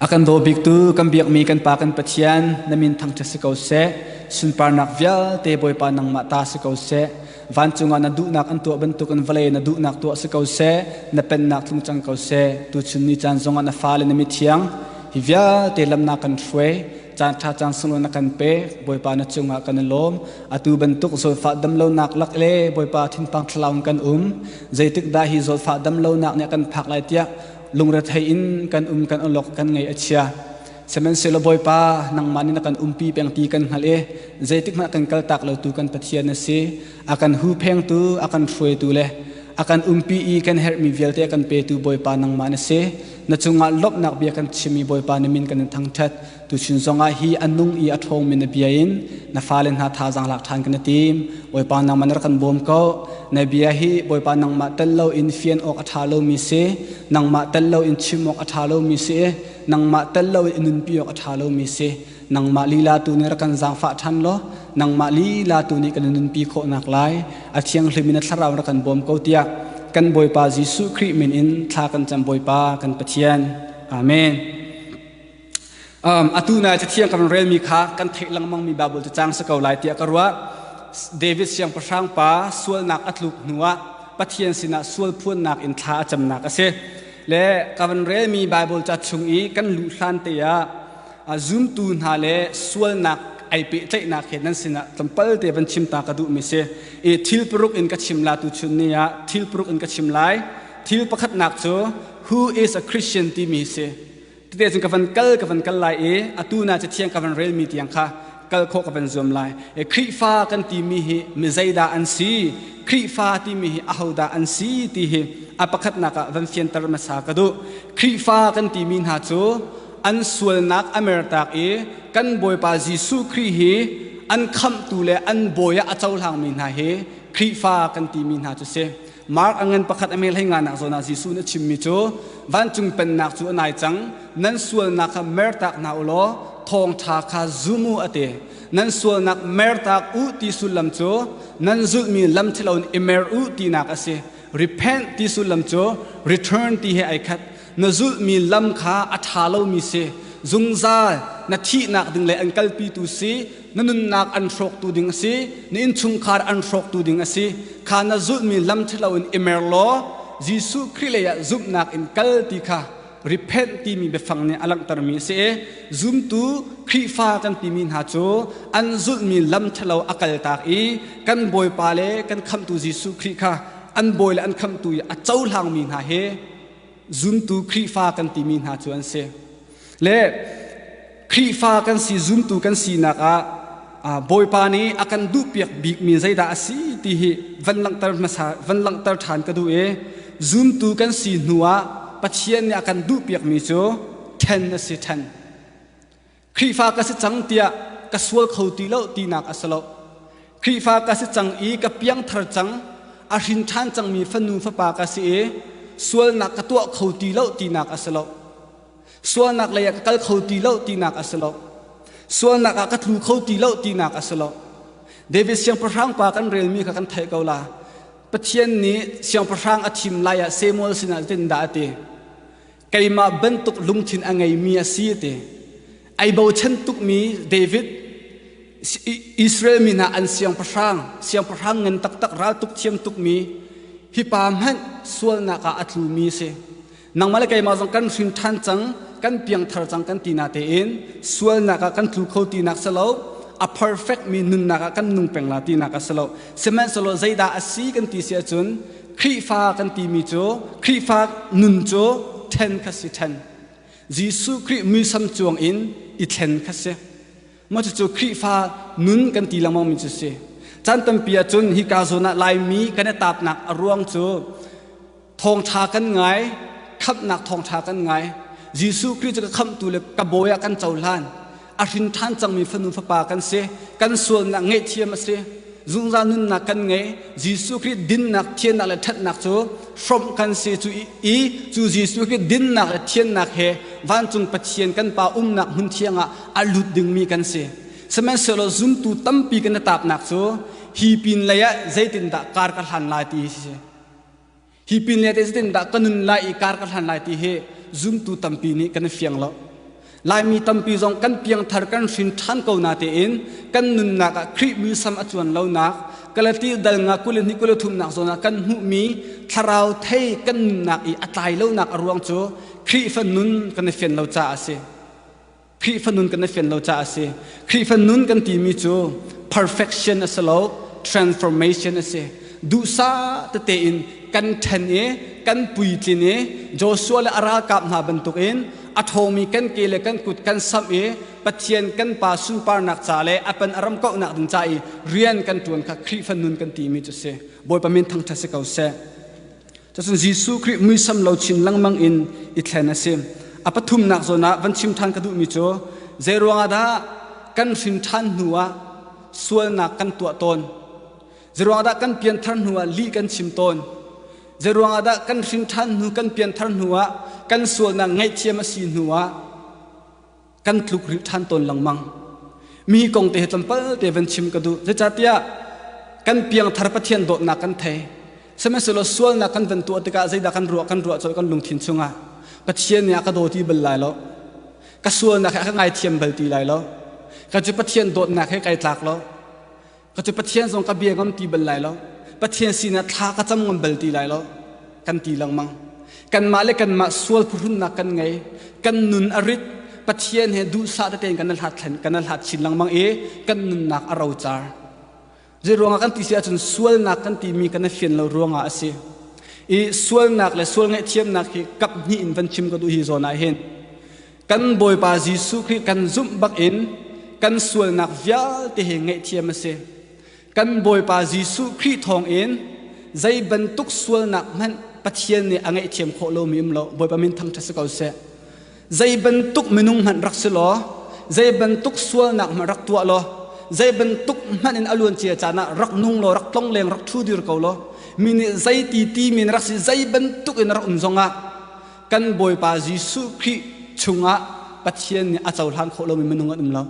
A kan daw biktu kan biakmi kan Pa kan Pathian na min thangṭhat si ko seh. Sunparnak vialte Bawipa nangmah ta si ko seh. Vancung ah na duhnak an tuah bantukin vawlei na duhnak tuah si ko seh. Na pennak tlung cang ko seh. Tuchun ni caan zongah na fale na mithiang hi vialte lamnak kan hruai. Caan ṭha caan sunglaw na kan pe. Bawipa na cungah kan i lawm. Atu bantuk zawtfah damlonak lak le Bawipa thinpang thlarau in kan um. Zeitik dah hi zawtfah damlonak nih a kan phak lai tiah lungrethei in kan um kan olok kan ngei a chia sihmanhsehlaw bawipa nangmah nih na kan umpi peng ti kan hngalh i zeitik hmah kan kal tak lo tu kan pathian a si a kan hu phengtu a kan hruaitu le a kan umpi i kan herhmi vialte kan petu bawipa nangmah na si na cungah lawmhnak bia kan chimmi bawipa na min kan in thangṭhat Tuchin zongah hi an nung i a ṭhawngmi na bia in na fale hna thazaang lak ṭhan kan i tim. Bawipa nangmah nar kan bawm ko. Na bia hi Bawipa nangmah tel loin fian awk a ṭha lomi si, nangmah tel loin chim awk a ṭha lomi si, nangmah tel loin i nunpi awk a ṭha lomi si. Nangmah lila tu nih rak kan zaangfah ṭhan law nangmah lila tu nih kan i nunpi khawhnak lai a thianghlim in a thlarau rak kan bawm ko tiah kan Bawipa Jesuh Khrih min in thla kan cam Bawipa kan Pathian. Amen. atu nai cathiang kan relmi kha kan theih lengmangmi Baibal cacang si ko lai tiah ka ruah. David siangpahrang pa sualnak a tluk hnuah Pathian sinah sual phuannak in thla a camnak a si. Le ka van relmi Baibal ca chung i kan luh hlan te ah zumtu hna le sualnak ai pehtlaihnak he nan sinah tlawmpalte van chim ta ka duhmi si. I thil paruk in ka chim la tu chun ni ah thil paruk in ka chim lai. Thil pakhatnak cu who is a Christian timi si. Tete cun ka van kal ka van kal lai i atu na Cathiang ka van relmi tiang kha kal khawh ka van zuam lai. E, Khrihfa kan timi hi mi zeidah an si? Khrihfa timi hi ahodah an si ti hi a pakhatnak ah van fianter hmasa ka duh. Khrihfa kan timi hna cu an sualnak a mertak i kan Bawipa Jesuh Khrih hi an khamhtu le an bawi ah a cohlangmi hna hi Khrihfa kan timi hna cu si. Mark a ngan pakhat a meh hlei nganak zawn ah Jesuh nih a chimmi cu vancung pennak cu a nai cang nan sualnak kha mer tak hna u law thawngṭha kha zum u a ti nan sualnak mer tak u ti sullam cu nan zulhmi lam ṭhalo in i mer u tinak a si repent ti sullam cu return ti he ai khat na zulhmi lam kha a ṭha lomi si zungzal na thihnak ding le an kalpitu si na nunnak an hrawktu ding a si na innchungkhar an hrawktu ding a si kha na zulhmi lam ṭhalo in i mer law Jesuh Khrih lei ah zumhnak in kal ti kha repent timi biafang nih a langhtermi a si i zumtu Khrihfa kan timi hna cu an zulhmi lam ṭhalo a kaltak i kan Bawipa le kan khamtu Jesuh Khrih kha an bawi le an khamtu i a cohlangmi hna he zumtu Khrihfa kan timi hna cu an si. Le Khrihfa kan si, zumtu kan sinak ah Bawipa nih a kan duhpiak bikmi zeidah a si ti hi van langhter hmasa van langhter ṭhan ka duh i zumtu kan si hnu ah Pathian nih a kan duhpiakmi cu ṭhen a si ṭhen. Khrihfa ka si cang tiah ka sual kho ti lo tinak a si lo. Khrihfa ka si cang i ka piangthar cang a hrin ṭhan cangmi fanu fapa ka si i sualnak ka tuah kho ti lo tinak a si lo. Sualnak leiah ka kal kho ti lo tinak a si lo. Sualnak ah ka tlu kho ti lo tinak a si lo. David siangpahrang pa kan relmi kha kan theih ko la. Pathian nih siangpahrang a thim lai ah Samuel sinah zeitindah a ti? keimah bantuk lungthin a ngeimi a si ti ai bochan tukmi David Israel mi hna an siangpahrang siangpahrang ngan taktak ral tuk thiam tukmi hipa hmanh sualnak ah a tlumi si nangmah le keimah zong kan hrin ṭhan cang kan piangthar cang kan ti na tein sualnak ah kan tlu kho tinak si lo a perfect mi nunnak ah kan nung peng la tinak a si lo sihmanhsehlaw zeidah a si kan ti si ahcun Khrihfa kan timi cu Khrihfa nun cu ṭhen kha si ṭhen. Jesuh Khrih muisam cuang in i thlen kha si. Maw cucu Khrihfa nun kan ti lengmangmi cu si. Caan tampi ahcun hika zawn ah Laimi kan i tapnak a ruang cu thawngṭha kan ngai, khamhnak thawngṭha kan ngai. Jesuh Khrih cu ka khamhtu le ka bawi ah kan cohlan. a hrin ṭhan cangmi fanu fapa kan si kan sualnak ngaihthiam a si zungzal nunnak kan ngei jesuh khrih dinnak thiannak le ṭhatnak cu hrawmh kan si cu i cu jesuh khrih dinnak le thiannak he vancung pathian kan pa umnak hmun thiangah a lut dingmi kan si sihmanhsehlaw zumtu tampi kan i tapnak cu hi pin lei ah zeitindah kar ka hlan lai ti hi si Hi pin lete zetindah ka nun lai i kar ka hlan lai ti hi zumtu tampi nih kan i fiang lo. Laimi tampi zong kan piangthar kan hrin ṭhan ko natein kan nunnak ah Khrih muisam a tluan lonak Galati dalnga kul hnih kul thumnak zawn ah kan hmuhmi thlarau thei kan nunnak i a tlai lonak a ruang cu Khrihfa nun kan i fian lo caah a si. Khrihfa nun kan i fian lo caah a si. Khrihfa nun kan timi cu perfection a si lo, transformation a si. Duhsah tete in kan ṭhen i kan puitlin i Joshua le a ralkap hna bantukin a ṭhawmi kan ke le kan kut kan samh i Pathian kan Pa sunparnak ca le a pan a ram kauhnak ding ca i rian kan ṭuan kha Khrihfa nun kan timi cu a si. Bawipa min thangṭhat si ko seh. Cucun Jesuh Khrih muisam lo chin lengmang in i thlen a si. A pathumnak zawn ah van chim ṭhan ka duhmi cu zeiruangah dah kan hrin ṭhan hnu ah sualnak kan tuah tawn? Zeiruangah dah kan pianthar hnu ah lih kan chim tawn? Zeiruangah dah kan hrin ṭhan hnu kan pianthar hnu ah kan sualnak ngaihthiam a si hnu ah kan tluk rih ṭhan tawn lengmang mi kong te tlawmpal te van chim ka duh zeicahtiah kan piangthar pathian dawtnak kan thei sihmanhsehlaw sualnak kan van tuah tikah zeidah kan ruah kan ruah cawlh kan lungthin chungah pathian nih a ka dawti bal lai lo ka sualnak he a ka ngaithiam bal ti lai lo ka cu pathian dawtnak he kai tlak lo Ka cu Pathian zong ka bia ngam ti bal lai lo. Pathian sinak thla ka cam ngam bal ti lai lo. Kan ti lengmang. Kanmah le kanmah sual phuhrunnak kan ngei. Kan nun a rit. Pathian he duhsah tete in kan hlat, kan hlat chin lengmang i kan nunnak a rocar. Zei ruangah kan ti si ahcun sualnak kan timi kan i fian lo ruangah a si. I sualnak le sual ngaihthiamnak hi kap hnih in van chim ka duh hi zawn ah hin kan Bawipa Jesuh Khrih kan zumh bakin kan sualnak vialte hi ngaihthiam a si. Kan Bawipa Jesuh Khrih thawngin zei bantuk sualnak hmanh Pathian nih a ngaihthiam khawh lomi um lo. Bawipa min thangṭhat si ko seh. Zei bantuk minung hmanh rak si law, zei bantuk sualnak hmanh rak tuah law, zei bantuk hmanh in a luancia caan ah rak nung law, rak tlongleng, rak ṭhu dir ko law, mi nih zei ti timi in rak si, zei bantuk in rak um zongah kan Bawipa Jesuh Khrih chungah Pathian nih a cohlang khawh lomi minung an um lo.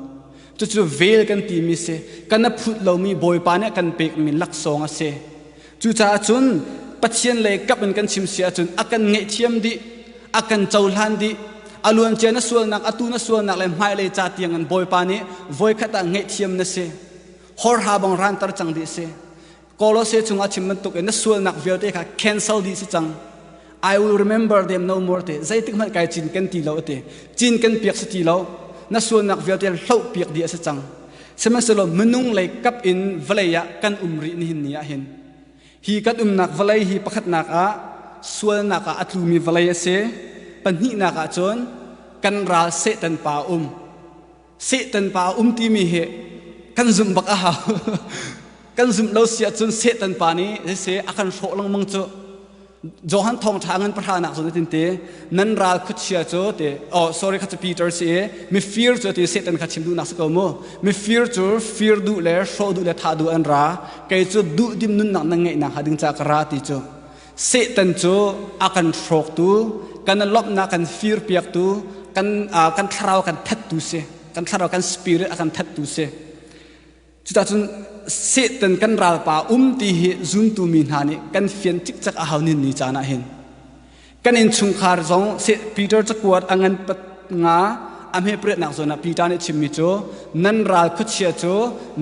Cucu vel kan timi si, kan a phut lomi Bawipa nih a kan pekmi laksawng a si. Cucaah cun Pathian lei kap in kan chim si ahcun a kan ngaihthiam dih, a kan cohlan dih, a luancia na sualnak, atu na sualnak le hmailei ca tiang in Bawipa nih voikhat ah ngaihthiam na si. Hor ha bang ranter cang dih si. Kolose chung a chim bantukin na sualnak vialte kha cancel dih si cang. I will remember them no more te zeitik hmanh kai cin kan ti lo ati cin kan piak si ti lo na sualnak vialte hloh piak di a si cang sihmanhsehlaw minung lei kap in vawlei ah kan um rih nihin ni ah hin hi kan umnak vawlei hi pakhatnak ah sualnak ah a tlumi vawlei a si pahnihnak ah cun kan ral Satan pa um Satan pa a um timi hi kan zumh bak a hau. kan zumh lo si ahcun Satan pa nih zeise a kan hrawh lengmang cu Johan thawngṭha ngan pahra nak zong tinte nan ral khuachia cu te oh sorry kha cu Peter si i mifir cu ti Satan kha chim duh nak si ko mu mifir cu fir duh le hrawh duh le thah duh an ra kei cu duh dim nunnak nan ngeih nak hnga ding ca ka ra ti cu Satan cu a kan hrawktu, kan lawmhnak kan firpiaktu, kan kan thlarau kan thattu si, kan thlarau kan spirit a kan thattu si. Cuta cun Satan kan ralpa um ti hi zuntu mi hna nih kan fian cikcek a hau nin ni caan ah hin. Kan innchungkhar zong Peter cakuat a ngan nga a hmeprenak zawn ah Peter nih chimmi cu nan ral khuachia cu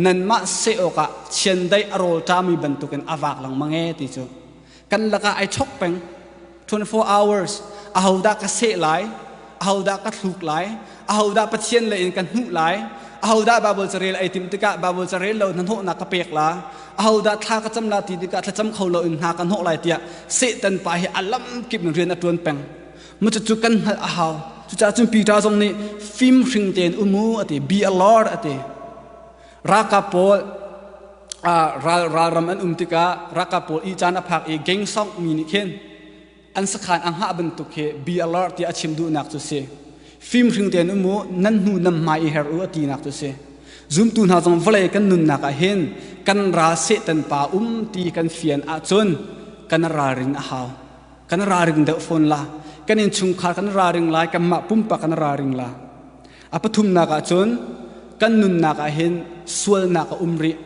nanmah seh awkah chiandeih a rawlṭami bantukin a vak lengmang e ti cu kan lakah ai chok peng 24 hours ahodah ka seh lai ahodah ka thluk lai ahodah pathian lei in kan hnuh lai ahodah Bible carel ai tim tikah Bible carel lo hnahnawhnak ka pek la ahodah thla ka cam la ti tikah thlacam kho lo in hna ka hnawh lai tiah Satan pa hi alam kip in rian a ṭuan peng Mucucu kan hngalh a hau. Cucaah cun Peter zong nih fim hring tein um u a ti. Be a Lord a ti. Ralkap pawl ral ralram an um tikah ralkap pawl i caan a phak i gengsong mi nih khin an sakhan a hngah bantuk hi be alert tiah a chim duhnak cu si. Fim hring tein um u, nan hnu nan hmai i her u a tinak cu si. Zumtu hna zong vawlei kan nunnak ah hin kan ral Satan pa um ti kan fian ahcun kan ralrin a hau. kan ralring deuh fawn la kan innchungkhar kan ralring lai kanmah pumpak kan ralring la a pathumnak ah cun kan nunnak ah hin sualnak a um rih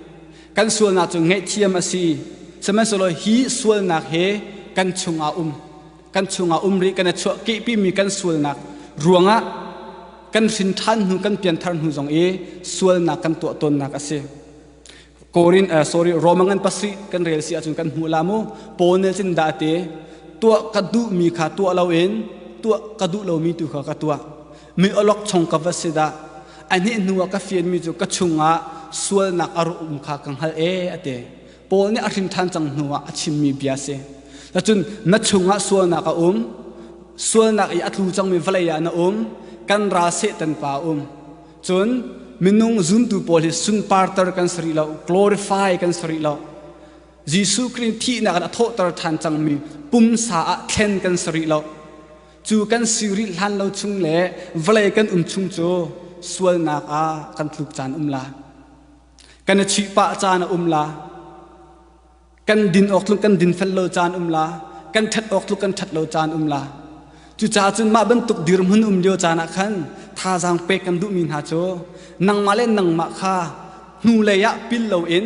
kan sualnak cu ngaihthiam a si sihmanhsehlaw hi sualnak he kan chungah um kan chungah um rih kan i chuahkehpimi kan sualnak ruangah kan hrin ṭhan hnu kan pianthar hnu zong i sualnak kan tuah tawnnak a si Korin uh, sorry Roma ngan pasri kan rel si ahcun kan hmu la mu Paul nih cin da te tua ka duh mi kha tua lo in tua ka duh lo mi tu kha ka tua mi olok chong ka va si da a ni hnu ka fian mi cu ka chungah sualnak aru um kha ka hal e ate Paul nih a hrin than cang hnu ah a chim mi bia si tacun na chungah sualnak a um sualnak i a tlu cangmi valeia na um kan ra setan pa um Cun minung zumtu pawl hi sunparter kan si rih lo, glorify kan si rih lo. Jesuh Khrih in thihnak in a thawhter ṭhan cangmi pumsa ah thlen kan si rih lo. Cu kan si rih hlan lo chung le vawlei kan um chung cu sualnak ah kan tluk caan um la. Kan i chuih pah caan a um la. kan din awk tluk kan dinfel lo caan um la kan ṭhat awk tluk kan ṭhat lo caan um la cucaah cun mah bantuk dirhmun um lio caan ah khan thazaang pek kan duhmi hna cu nangmah le nangmah kha hnulei ah pil loin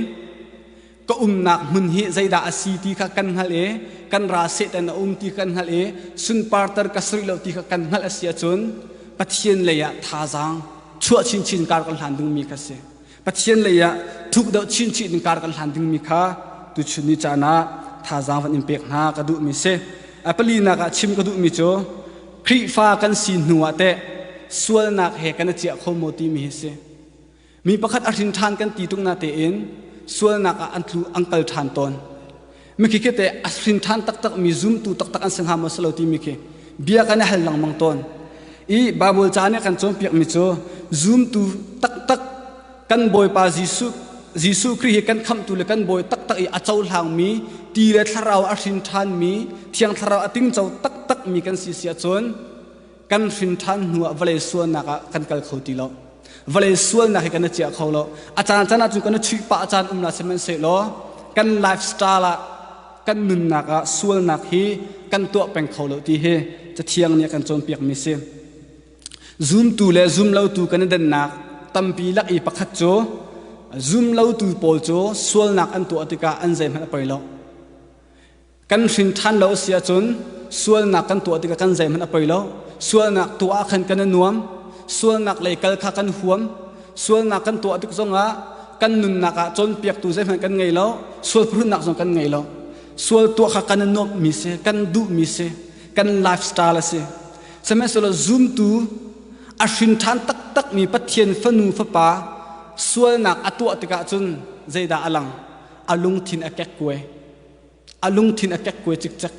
ka umnak hmun hi zeidah a si ti kha kan hngalh i kan ra setan a um ti kan hngalh i sunparter ka sri lo ti kha kan hngalh a si ahcun pathian lei ah thazaang chuah chinchin kar kan hlan dungmi kha si Pathian lei ah thukdeuh chinchin in kar kan hlan dingmi kha tuchun ni caan ah thazaang van in pek hna ka duhmi si. A palinak ah chim ka duhmi cu Khrihfa kan si hnu ah teh sualnak he kan i ciah kho maw timi hi si. Mi pakhat a hrin ṭhan kan ti tuk na tein sualnak ah an tlu an kal ṭhan tawn. Mikhi khi te a hrin ṭhan taktak mi zumtu taktak an si hnga maw si lo timi khi bia kan i hal lengmang tawn. I Bible ca nih kan cawnpiak mi cu zumtu taktak kan Bawipa Jesuh Jesuh Khrih hi kan khamhtu le kan bawi taktak i a cohlang mi ti le thlarau a hrin ṭhan mi thiang thlarau a tingco taktak mi kan si si ahcun kan hrin ṭhan hnu ah vale sualnak ah kan kal kho ti lo vale sualnak hi kan i ciah kho lo a caan caan ahcun kan i chuih pah caan um na sihmanhsehlaw kan lifestyle ah kan nunnak ah sualnak hi kan tuah peng kho lo ti hi cathiang nih a kan cawnpiakmi si zumtu le zumlotu kan i dennak tampi lak i pakhat cu zumlotu pawl cu sualnak an tuah tikah an zeihmanh a poi lo kan hrin ṭhan lo a si ahcun sualnak kan tuah tikah kan zeihmanh a poi lo sualnak tuah ah khan kan i nuam sualnak lei kal kha kan huam sualnak kan tuah tik zongah kan nunnak ah cawnpiaktu zeihmanh kan ngei lo sual phurhnak zong kan ngei lo sual tuah kha kan i nuamhmi si kan duhmi si kan lifestyle a si sihmanhsehlaw zumtu a hrin ṭhan taktakmi pathian fanu fapa sualnak a tuah tikah cun zeidah a lang a lungthin a kek kuai a lungthin a kekkuai cikcek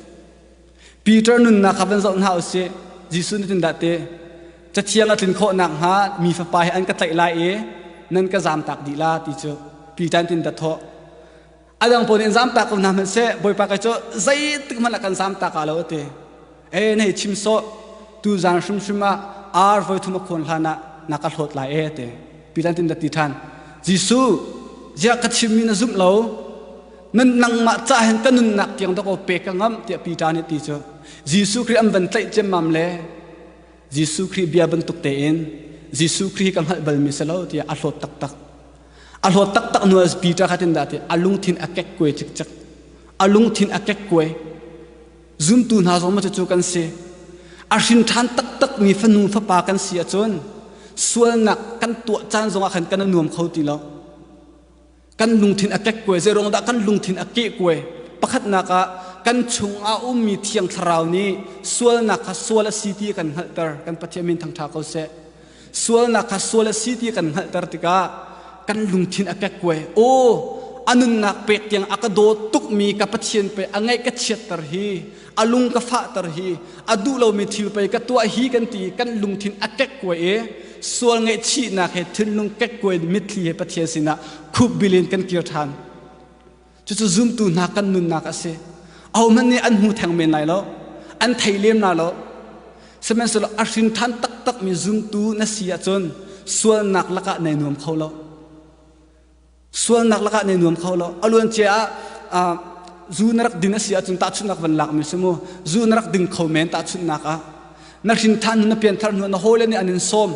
Peter nunnak kha van zoh hna u sih Jesuh nih tindah ti cathiang a tlin khawh nakhnga mi fapa hi an ka tlaih lai i nan ka zamtak dih la ti cu Peter tin da thawh a dang pawl nih zamtak ko hna hmanhseh Bawipa kai cu zeitik hmanh ah kan zamtak aa lo a ti e na i chim sawh tuzan hrimhrim ah ar voi thum a khawn hlan ah na ka hlawt lai e te pilan tin da ti than jesuh ziah ka chimmi na zumh lo nan nangmah ca hen ka nunnak tiang dok pe ka ngam tiah pi ta nih ti cu jesuh khrih an van tlaih ciammam le jesuh khrih bia bantuk tein jesuh khrih ka hngalh balmi si lo tiah a hlawt taktak a hlawt taktak nu as peter khatin da ti a lungthin a kek kue cikcek a lungthin a kek kue Zumtu hna zong cucu kan si. A hrinṭhan taktakmi fanu fapa kan si ahcun sualnak kan tuah caan zongah khan kan i nuam kho ti lo. Kan lungthin a kekkuai zeiruang dah kan lungthin a kehkuai pakhatnak ah kan chungah ummi thiang thlarau nih sualnak kha sual a si ti kan hngalhter kan Pathian min thangṭha ko seh. sualnak kha sual a si ti kan hngalhter tikah kan lungthin a kekkuai aw a nunnak pek tiang a ka daw tukmi ka pathian pei a ngaih ka chiatter hi a lung ka fahter hi a duh lomi thil pei ka tuah hi kan ti kan lungthin a kekkuai e sual ngaihchihnak he thinlung kekkuai mitthli he pathian sinah khupbil in kan kir ṭhan Cucu zumtu hna kan nunnak a si. Ahohmanh nih an hmu theng men lai lo, an thei lem lai lo. Sihmanhsehlaw a hrinthan taktakmi zumtu na si ahcun sualnak lakah nei nuam kho lo. Sualnak lakah nei nuam kho lo. A luancia ah uh, zu na rak din a si ahcun tahchunhnak van lakmi si mu. Zu na rak din kho men tahchunhnak ah. Na hrinthan hnu, na pianthar hnu, na hawile nih an in sawm.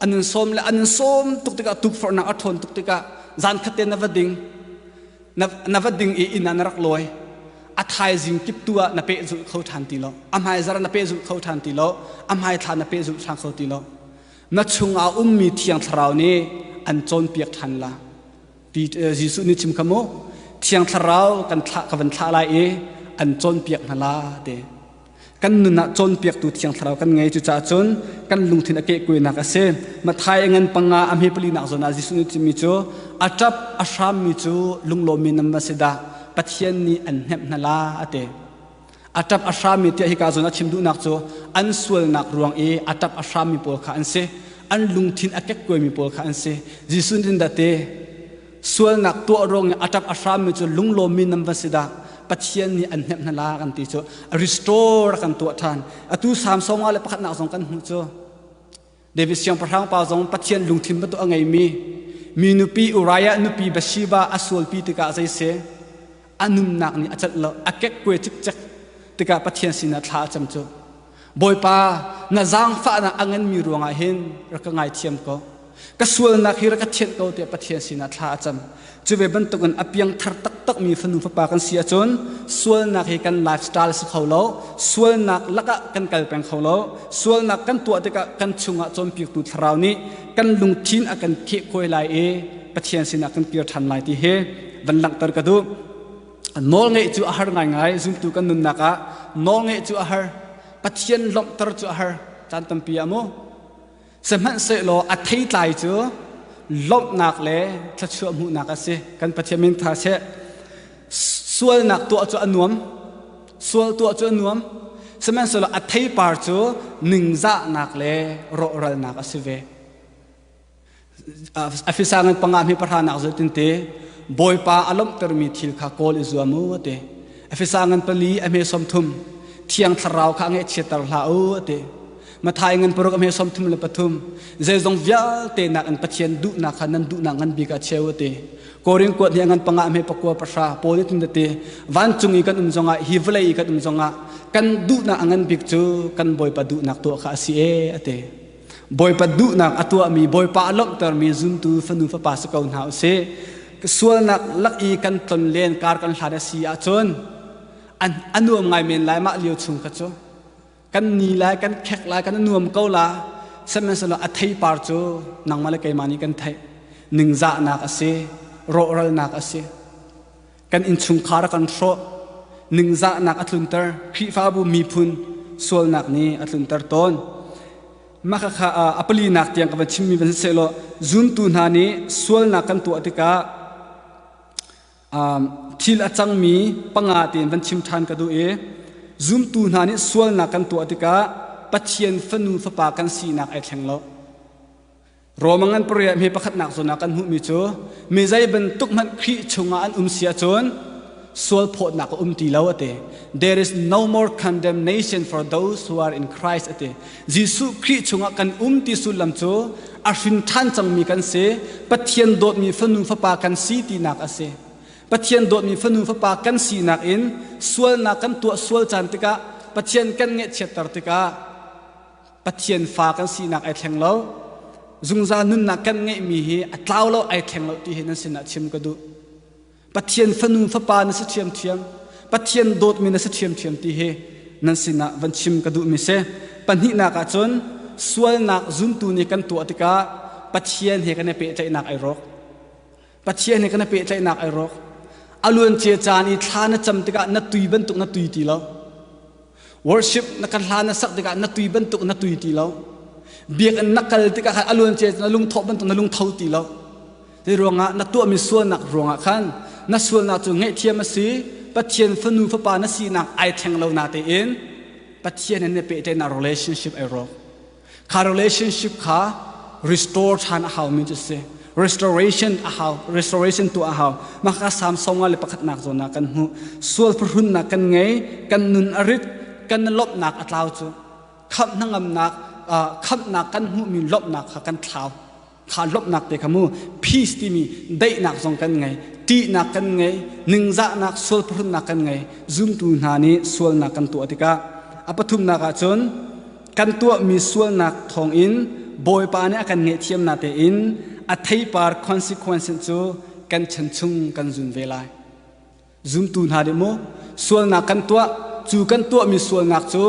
an nun sawm le an nun sawm tuk tikah tukforhnak a ṭhawn tuk tikah zan khat te na va ding na va ding i inn ah na rak lawi a thaizing kip tu ah na peh zulh kho ṭhan ti lo a hmaizar na peh zulh kho ṭhan ti lo a hmaithla na peh zulh ṭhan kho ti lo na chungah ummi thiang thlarau nih an cawnpiak ṭhan la Jesuh nih chim kha mu thiang thlarau kan thlah ka van thlah lai i an cawnpiak hna la te kan nun ah cawnpiaktu thiang thlarau kan ngei cucaah cun kan lungthin a kehkuainak a si mathai a ngan panga a hme palinak zawn ah jesuh nih cimi cu a ṭap a hrammi cu lunglawmmi nam a si dah pathian nih an hnemh hna la a ti a ṭap a hrammi tiah hika zawn a chim duhnak cu an sualnak ruang i a ṭap a hrammi pawl kha an si an lungthin a kekkuaimi pawl kha an si jesuh nih dah te sualnak tuah ruang i a ṭap a hrammi cu lunglawmmi nan va si dah pathian nih an hnemh hna la kan ti cu restore kan tuah ṭhan atu samsung le pakhatnak zong kan hmuh cu David siangpahrang pa zong pathian lungthin betu a ngeimi mi nupi Uriah nupi Bathsheba a sualpi tikah zei si a nunnak nih a celh lo a kekkuai cikcek tikah Pathian sinah thla a cam cu Bawipa na zaangfahnak a nganmi ruangah hin rak ka ngaithiam ko ka sualnak hi rak ka thianh ko tiah Pathian sinah thla a cam cu ve bantukin a piangthar taktakmi fanu fapa kan si ahcun sualnak hi kan lifestyle si kho lo sualnak lakah kan kal peng kho lo sualnak kan tuah tikah kan chungah cawnpiaktu thlarau nih kan lungthin a kan khehkuai lai i Pathian sinah kan kir ṭhan lai ti hi van langhter ka duh nawlngeih cu a har ngaingai zumtu kan nunnak ah nawlngeih cu a har pathian lawmhter cu a har caan tampi ah mu sihmanhsehlaw a theitlai cu lawmhnak le thluachuah hmuhnak a si kan pathian min tha seh sualnak tuah cu a nuam sual tuah cu a nuam sihmanhsehlaw a theipar cu ningzahnak le rawhralnak a si ve a fisang in panga mi pahra nak zaltin te bawipa a lomhtermi thil kha kawl i zuam u te afisang in pali a hme som thum thiang thlarau kha nge chiatar hla u te mathai ngan paruk a hme som thum le pathum zeizong vialte nak in pathian duhnak kha nan duhnak ngan bika cheu te koring kuat ni ngan panga hme pakua pasha pawl tin te van cung i kan um zonga hi vlei i kan um zonga kan duhnak ngan bik cu kan boipa duhnak to kha asi e ate Bawipa duhnak a tuahmi Bawipa a langhtermi zuntu fanu fapa si ko hna u si sualnak lak i kan ton len kar kan hlan a si ahcun an a nuam ngai men lai mah lio chung kha cu kan ni lai kan khek lai kan nuam ko la sihmanhsehlaw a theipar cu nangmah le keimah nih kan theih ningzahnak a si rawhralnak a si kan innchungkhar a kan hrawh ningzahnak a tlunter khrihfabu miphun sualnak nih a tlunter tawn mah kha a palinak tiang ka van chimmi van si law zuntu hna nih sualnak kan tuah tikah thil a cangmi panga tein van chim ṭhan ka duh i zumtu hna nih sualnak kan tuah tikah Pathian fanu fapa kan sinak ai thleng lo Rome ngan pariah mi pakhatnak zun ah kan hmuhmi cu mi zei bantuk hmanh Khrih chungah an um si ahcun sual phawtnak a um ti lo ati there is no more condemnation for those who are in Christ ati Jesuh Khrih chungah kan um ti sullam cu a hrin ṭhan cangmi kan si Pathian dawtmi fanu fapa kan si tinak asi Pathian dawtmi fanu fapa kan sinak in sualnak kan tuah sual caan tikah Pathian kan ngeihchiatter tikah Pathian fa kan sinak ai thleng lo zungzal nunnak kan ngeihmi hi a tlau lo ai thleng lo ti hi nan sinah chim ka duh Pathian fanu fapa na si ṭhiamṭhiam Pathian dawtmi na si ṭhiamṭhiam ti hi nan sinah van chim ka duhmi si pahnihnak ah cun sualnak zumtu nih kan tuah tikah Pathian he kan i pehtlaihnak ai rawk Pathian nih kan i pehtlaihnak ai rawk. A luancia caan i thla na cam tikah na tui bantuk na tui ti lo. Worship na kan hla na sak tikah na tui bantuk na tui ti lo. Biakinn na kal tikah khan a luancia na lungthawh bantuk na lungtho ti lo. Zei ruangah na tuahmi sualnak ruangah khan na sualnak cu ngaihthiam a si Pathian fanu fapa na sinak ai thleng lo na tein Pathian he na pehtlaihnak relationship ai rawk. Kha relationship kha restore ṭhan a haumi cu si. Restoration a hau, restoration tuah a hau. Mahka Samsung ah le pakhatnak zawn ah kan hmuh. Sual phuhrunnak kan ngei, kan nun a rit, kan lawmhnak a tlau cu. Khamh hnangamnak, uh, khamhnak kan hmuhmi lawmhnak kha kan thlau. kha lawmhnak te kha mu peace timi daihnak zong kan ngei ṭihnak kan ngei ningzahnak sual phuhrunnak kan ngei zumtu hna nih sualnak kan tuah tikah a pathumnak ah cun kan tuahmi sualnak thawngin bawipa nih a kan ngaihthiamnak tein a theipar consequence cu kan chan chung kan zun ve lai Zumtu hna nih mu sualnak kan tuah cu kan tuahmi sualnak cu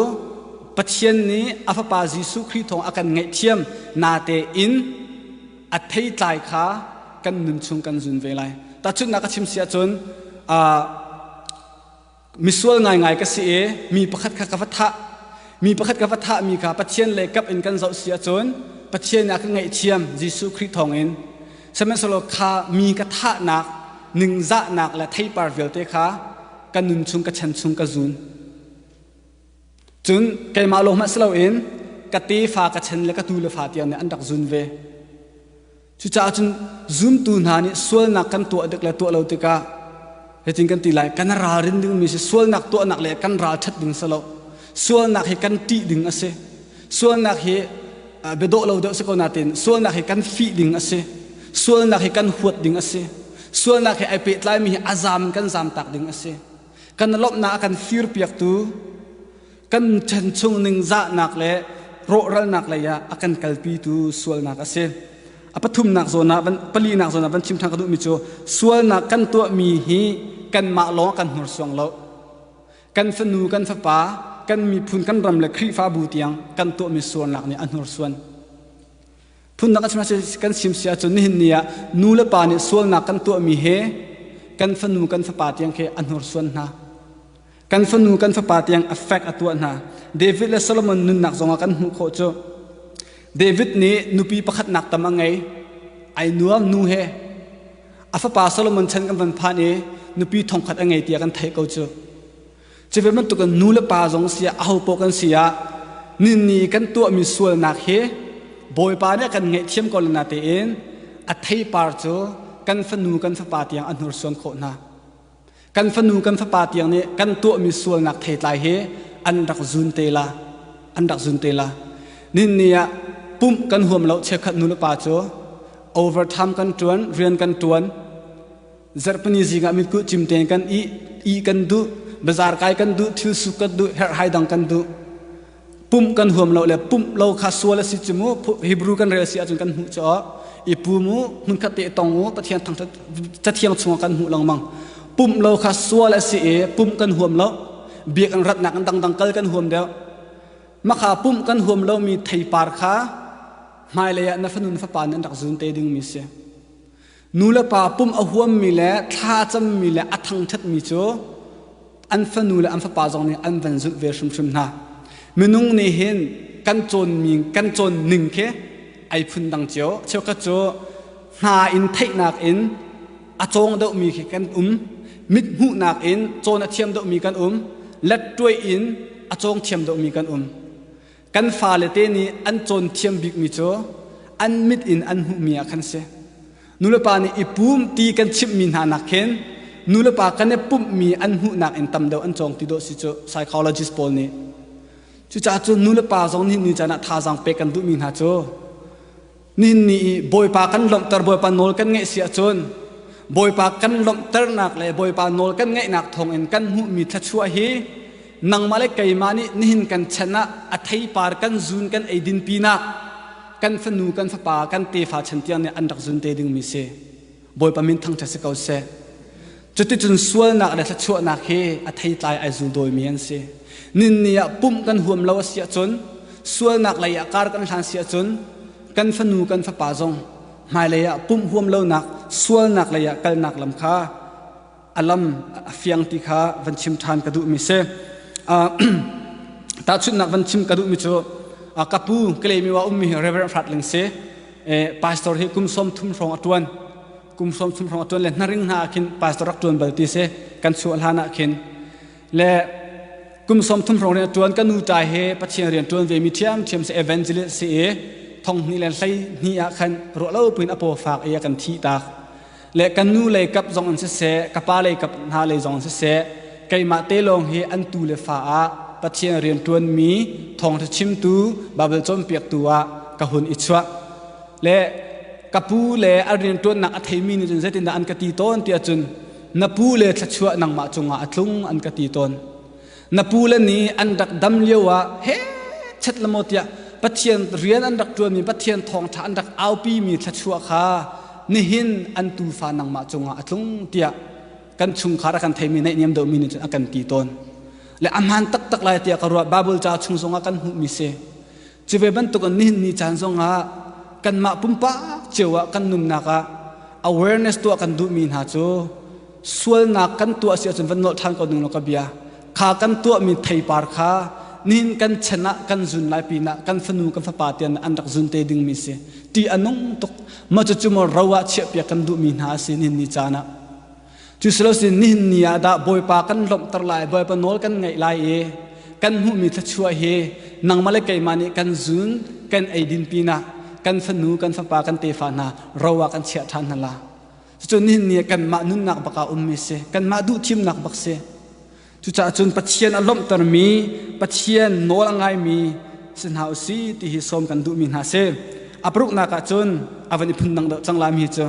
Pathian nih a Fapa Jesuh Khrih thawng a kan ngaihthiam nate in a theitlai kha kan nun chung kan zun ve lai. Tahchunhnak ka chim si ahcun uh, misual ngaingai ka si i mi pakhat kha ka va thah mi pakhat ka va thahmi kha Pathian leikap in kan zoh si ahcun Pathian ah ka ngaihthiam Jesuh Khrih thawngin Sihmanhsehlaw kha mi ka thahnak, ningzahnak le theipar vialte kha ka nun chung, ka chan chung ka zun. Cun keimah lawng hmanh si loin ka tefa, ka chan le ka tu le fa tiang nih an rak zun ve. Cucaah cun zumtu hna nih sualnak kan tuah dik le tuah lo tikah Hitin kan ti lai, kan ralrin dingmi si sualnak tuahnak le kan ralṭhat ding si lo. Sualnak hi kan ṭih ding a si. Sualnak hi biadawh lo deuh si ko nain sualnak hi kan fih ding a si. Sualnak hi kan huat ding a si. Sualnak he ai pehtlaimi hi a zaam in kan zaam tak ding a si. Kan lawmhnak a kan firpiaktu kan chan chung ningzahnak le rawhralnak lei ah a kan kalpitu sualnak a si a pathumnak zawn ah palinak zawn ah van chim ṭhan ka duhmi cu sualnak kan tuahmi hi kanmah lawng kan hnursuang lo kan fanu kan fapa kan miphun kan ram le khrihfabu tiang kan tuahmi sualnak nih a hnursuan Phundang kan sim si ahcun nihin ni ah nu le pa nih sualnak kan tuahmi he kan fanu kan fapa tiang khi a hnursuan hna. Kan fanu kan fapa tiang effect a tuah hna. David le Solomon nunnak zongah kan hmuh khawh cu David nih nupi pakhatnak tam a ngei. Ai nuam nu he a fapa Solomon chan kan van phan i nupi thongkhat a ngei tiah kan theih ko cu. Cuve bantukin nu le pa zong si ah ahopaoh kan si ah ninni kan tuahmi sualnak hi Bawipa nih a kan ngaihthiam ko le natein a theipar cu kan fanu kan fapa tiang a hnursuan khawh hna. Kan fanu kan fapa tiang nih kan tuahmi sualnak theitlai hi an rak zun te la. An rak zun te la. Ninni ah pumh kan huam lo chiakhat nu le pa cu overtime kan ṭuan, rian kan ṭuan. Zarhpini zingah mitkuh cim tein kan ih, i kan duh, bazar kai kan duh, thil suk kan duh, herhhai dang kan duh. Pumh kan huam lo le pumh lo kha sual a si cu mu. Hebrew kan rel si ahcun kan hmuh cu i pum u, hmunkhat te tong u, Pathian thang cathiang chungah kan hmuh lengmang. Pumh lo kha sual a si i pumh kan huam lo, bia kan ratnak in dangdang kal kan huam deuh. Makha pumh kan huam lomi theipar kha hmailei ah na fanu na fapa nih an rak zun te dingmi si. Nulepa pum a huammi le thla a cammi le a thangṭhatmi cu an fanu le an fapa zong nih an van zulh ve hrimhrim hna. Minung nih hin kan cawnmi kan cawn ning khi ai phun dang cio. Cheukhat cu hna in theihnak in a cawng deuhmi khi kan um. Mithmuhnak in cawn a thiam deuhmi kan um. Lettuai in a cawng thiam deuhmi kan um. Kan fale te nih an cawn thiam bikmi cu an mit in an hmuhmi ah khan si. Nulepa nih i pum ti kan chimhmi hna nak hin nulepa kan i pumhmi an hmuhnak in tam deuh an cawng ti dawh si cu psychologist pawl nih cucaah cu nulepa zong nih ni caan ah thazaang pek kan duhmi hna cu Nin ni i Bawipa kan lawmhter Bawipa nawl kan ngaih si ahcun Bawipa kan lawmhternak le Bawipa nawl kan ngaihnak thawngin kan hmuhmi thluachuah hi nangmah le keimah nih nihin kan chan ah a theipar kan zun kan eidin pinah kan fanu kan fapa kan tefa chan tiang nih an rak zun te dingmi si. Bawipa min thangṭhat si ko seh. Cuticun sualnak le thluachuahnak hi a theitlai ai zul dawimi an si. Ninni ah pumh kan huam lo a si ahcun, sualnak lei ah kar kan hlan si ahcun, kan fanu kan fapa zong hmailei ah pumh huam lonak sualnak lei ah kalnak lam kha a lam a fiang ti kha van chim ṭhan ka duhmi si tahchunhnak van chim ka duhmi cu ka pu kalemi wa ummi reverend hratling si pastor hi kum sawm thum hrawng a ṭuan kum sawm thum hrawng a ṭuan le hnaring hna ah khin pastor rak ṭuan bal ti si kan chuah hlan ah khin le kum sawm thum hrawng rian ṭuan kan nu ṭa he pathian rian ṭuan ve mi ṭhiam ṭhiam si evangelist si i thong hni le hlei hni ah khan ruah lo pin a paw fak i a kan thi tak le kan nu lei kap zong an siseh ka pa lei kap hna lei zong siseh keimah te lawng hi an tu le fa ah pathian rian ṭuanmi thawngṭha chimtu baibal cawnpiaktu ah ka hun i chuah le ka pu le a rian ṭuannak a theimi nih cun zeitindah an ka ti tawn tiah cun na pu le thluachuah nangmah cungah a tlung an ka ti tawn na pule nih an rak dam lio ah he chet le maw tiah Pathian rian an rak ṭuanmi Pathian thawngṭha an rak aupimi thluachuah kha nihin an tuufa nangmah cungah a tlung tiah kan chungkhar a kan theimi naihniam deuhmi nih cun a kan ti tawn le a hmaan taktak lai tiah ka ruah Baibal ca chung zongah kan hmuhmi si Cuve bantukin nihin ni caan zongah kanmah pumpak cio ah kan nunnak ah awareness tuah kan duhmi hna cu sualnak kan tuah si ahcun van nolh ṭhan ko ning law ka bia kha kan tuahmi theipar kha nihin kan chan ah kan zun lai pinah kan fanu kan fapa tian an rak zun te dingmi si ti a nung tuk maw cucu maw ro ah chiahpiak kan duhmi hna a si nihin ni caan ah Cu silosin nihin ni ah dah Bawipa kan lawmhter lai, Bawipa nawl kan ngaih lai i kan hmuhmi thluachuah hi nangmah le keimah nih kan zun kan eidin pinah kan fanu kan fapa kan tefa hna ro ah kan chiah ṭhan hna la. Cucu nihin ni ah kanmah nunnak bak ah ummi si, kanmah duhthimnak bak si. Cucaah cun Pathian a lawmhtermi, Pathian nawl a ngaimi si hna u si ti hi sawm kan duhmi hna si. A paruknak ah cun a van i phundang deuh cang lami cu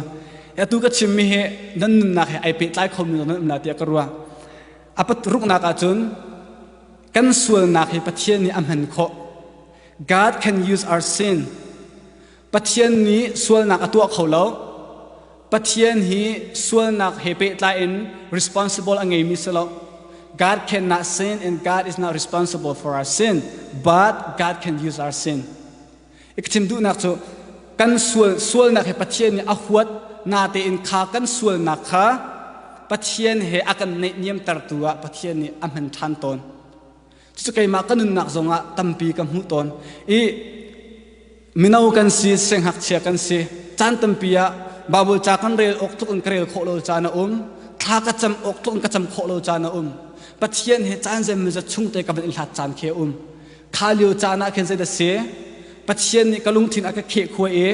atu ka chimmi hi nan nunnak he ai pehtlai khomi nan um na tiah ka ruah. A paruknak ah cun kan sualnak hi Pathian nih a hman khawh. God can use our sin. Pathian nih sualnak a tuah kho lo. Pathian hi sualnak he pehtlai in responsible a ngeimi si lo. God cannot sin and God is not responsible for our sin, but God can use our sin. I ka chim duhnak cu kan sual sualnak he Pathian nih a huat natein kha kan sualnak kha Pathian he a kan neihniamtertu ah Pathian nih a hman ṭhan tawn. Cucu keimah ka nunnak zongah tampi ka hmuh tawn i mino kan si siangakchia kan si caan tampi ah Baibal ca kan rel awk tluk in ka rel khawh lo caan a um thla ka cam awk tluk in ka cam khawh lo caan a um Pathian he caan zeimawzat chung te ka van in hlat caan khi a um kha lio caan ah khin zei da si Pathian nih ka lungthin a ka kheh khua i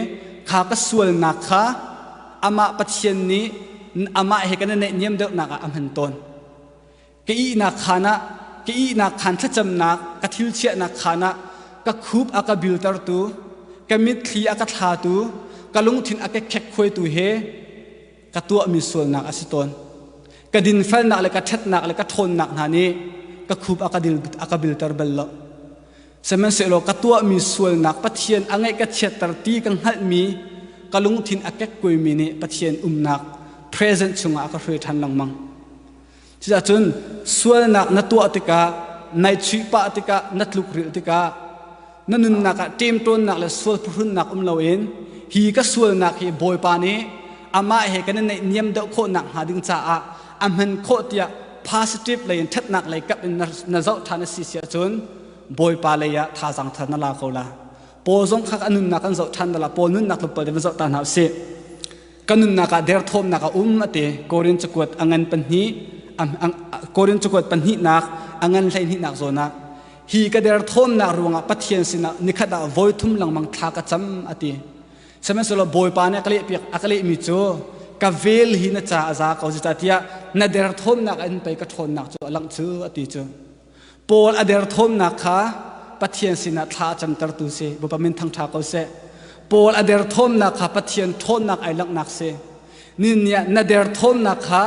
kha ka sualnak kha amah Pathian nih amah he kan i neihniam deuhnak ah a hman tawn ka ihnak khaan ah ka ihnak khaan thlacamnak ka thil chiahnak khaan ah ka khup a ka biltertu ka mitthli a ka thlatu ka lungthin a ka khekhuaitu he ka tuahmi sualnak a si tawn ka dinfelnak le ka ṭhatnak le ka ṭhawnnak hna nih ka khup a ka dil a ka bilter bal lo sihmanhsehlaw ka tuahmi sualnak pathian a ngaih ka chiatter ti ka hngalhmi ka lungthin a kekkuaimi nih pathian umnak present chungah a ka hruai ṭhan lengmang Cuticun sualnak na tuah tikah, naihchuih pah tikah, na tlukrilh tikah, na nunnak ah ṭemṭawnnak le sual phuhrunnak um loin hi ka sualnak hi Bawipa nih amah he kan i naihniam deuh khawh nakhnga ding caah a hman khawh tiah positive lei in ṭhatnak lei kap in na zoh ṭhan a si si ahcun Bawipa lei ah thazaang thar na la ko la. Paul zong kha a nunnak kan zoh ṭhan dal ah Paul nunnak tlawmpal te va zoh ta hna u sih. kan nunnak ah derthawmnak a um ate Korin cakuat a ngan pahnih Korin cakuat pahnihnak a ngan hleihnih zawn ah hi ka derthawmnak ruangah Pathian sinah nikhat ah voi thum lengmang thla ka cam ati sihmanhsehlaw Bawipa nih a ka lehpiak a ka lehmi cu ka vel hi na ca a za ko zita tiah na derthawmnak in pei ka ṭhawnnak cu a langh cu ati cu Paul a derthawmnak kha Pathian sinah thla a camtertu si Bawipa min thangṭha ko seh. Paul a derthawmnak kha Pathian ṭhawnnak ai langhnak si. Ninni ah na derthawmnak kha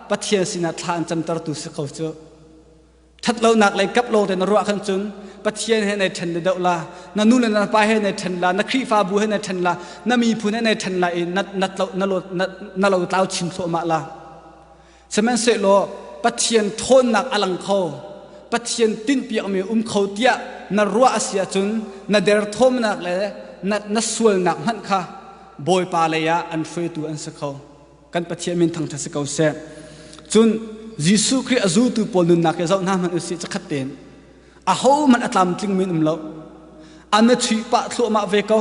Pathian sinah thla an camtertu si ko cu. Ṭhatlonak lei kap lawng te na ruah khan cun Pathian he nai ṭhen le doh la, na nu le na pa he nai ṭhen la, na Khrihfabu he nai ṭhen la, na miphun he nai ṭhen la i na, na, na, na lo tlau chin thluahmah la. Sihmanhsehlaw Pathian ṭhawnnak a lang kho. Pathian tinhpiakmi um kho tiah na ruah a si ahcun na derthawmnak le na, na sualnak hmanh kha Bawipa lei ah an hruaitu an si kho. Kan Pathian min thangṭhat si ko seh. Cun Jesuh Khrih a zultu pawl nunnak hi zoh hna hmanh u sih, cakhat tein. ahohmanh a tlamtling men um lo an na chuih pah thluahmah ve ko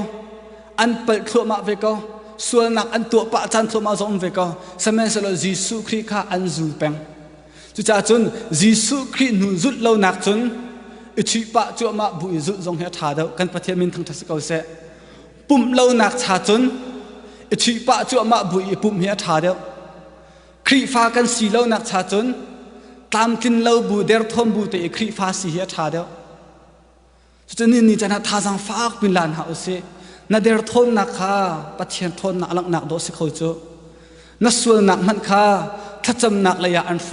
an palh thluahmah ve ko sualnak an tuah pah caan thluahmah zong um ve ko samenhsehlaw jesuh khrih kha an zul peng cucaah cun jesuh khrih hnu zulh lonak cun i chuih pah cuahmah bu i zulh zong hi a ṭha deuh kan pathian min thangṭhat si ko seh pumh lonak cha cun i chuih pah cuahmah bu i pumh hi a ṭha deuh Khrihfa kan si lo nak cha cun tlamtlin lo bu derthawm bu te i Khrihfa si hi a tha deuh. Cucun nin ni chan thazang faak pin lan ha usih. Na derthawnnak kha Pathian thawnnak langhnak dawh si kho cu. Na sualnak hmanh kha thlacamnak leiah an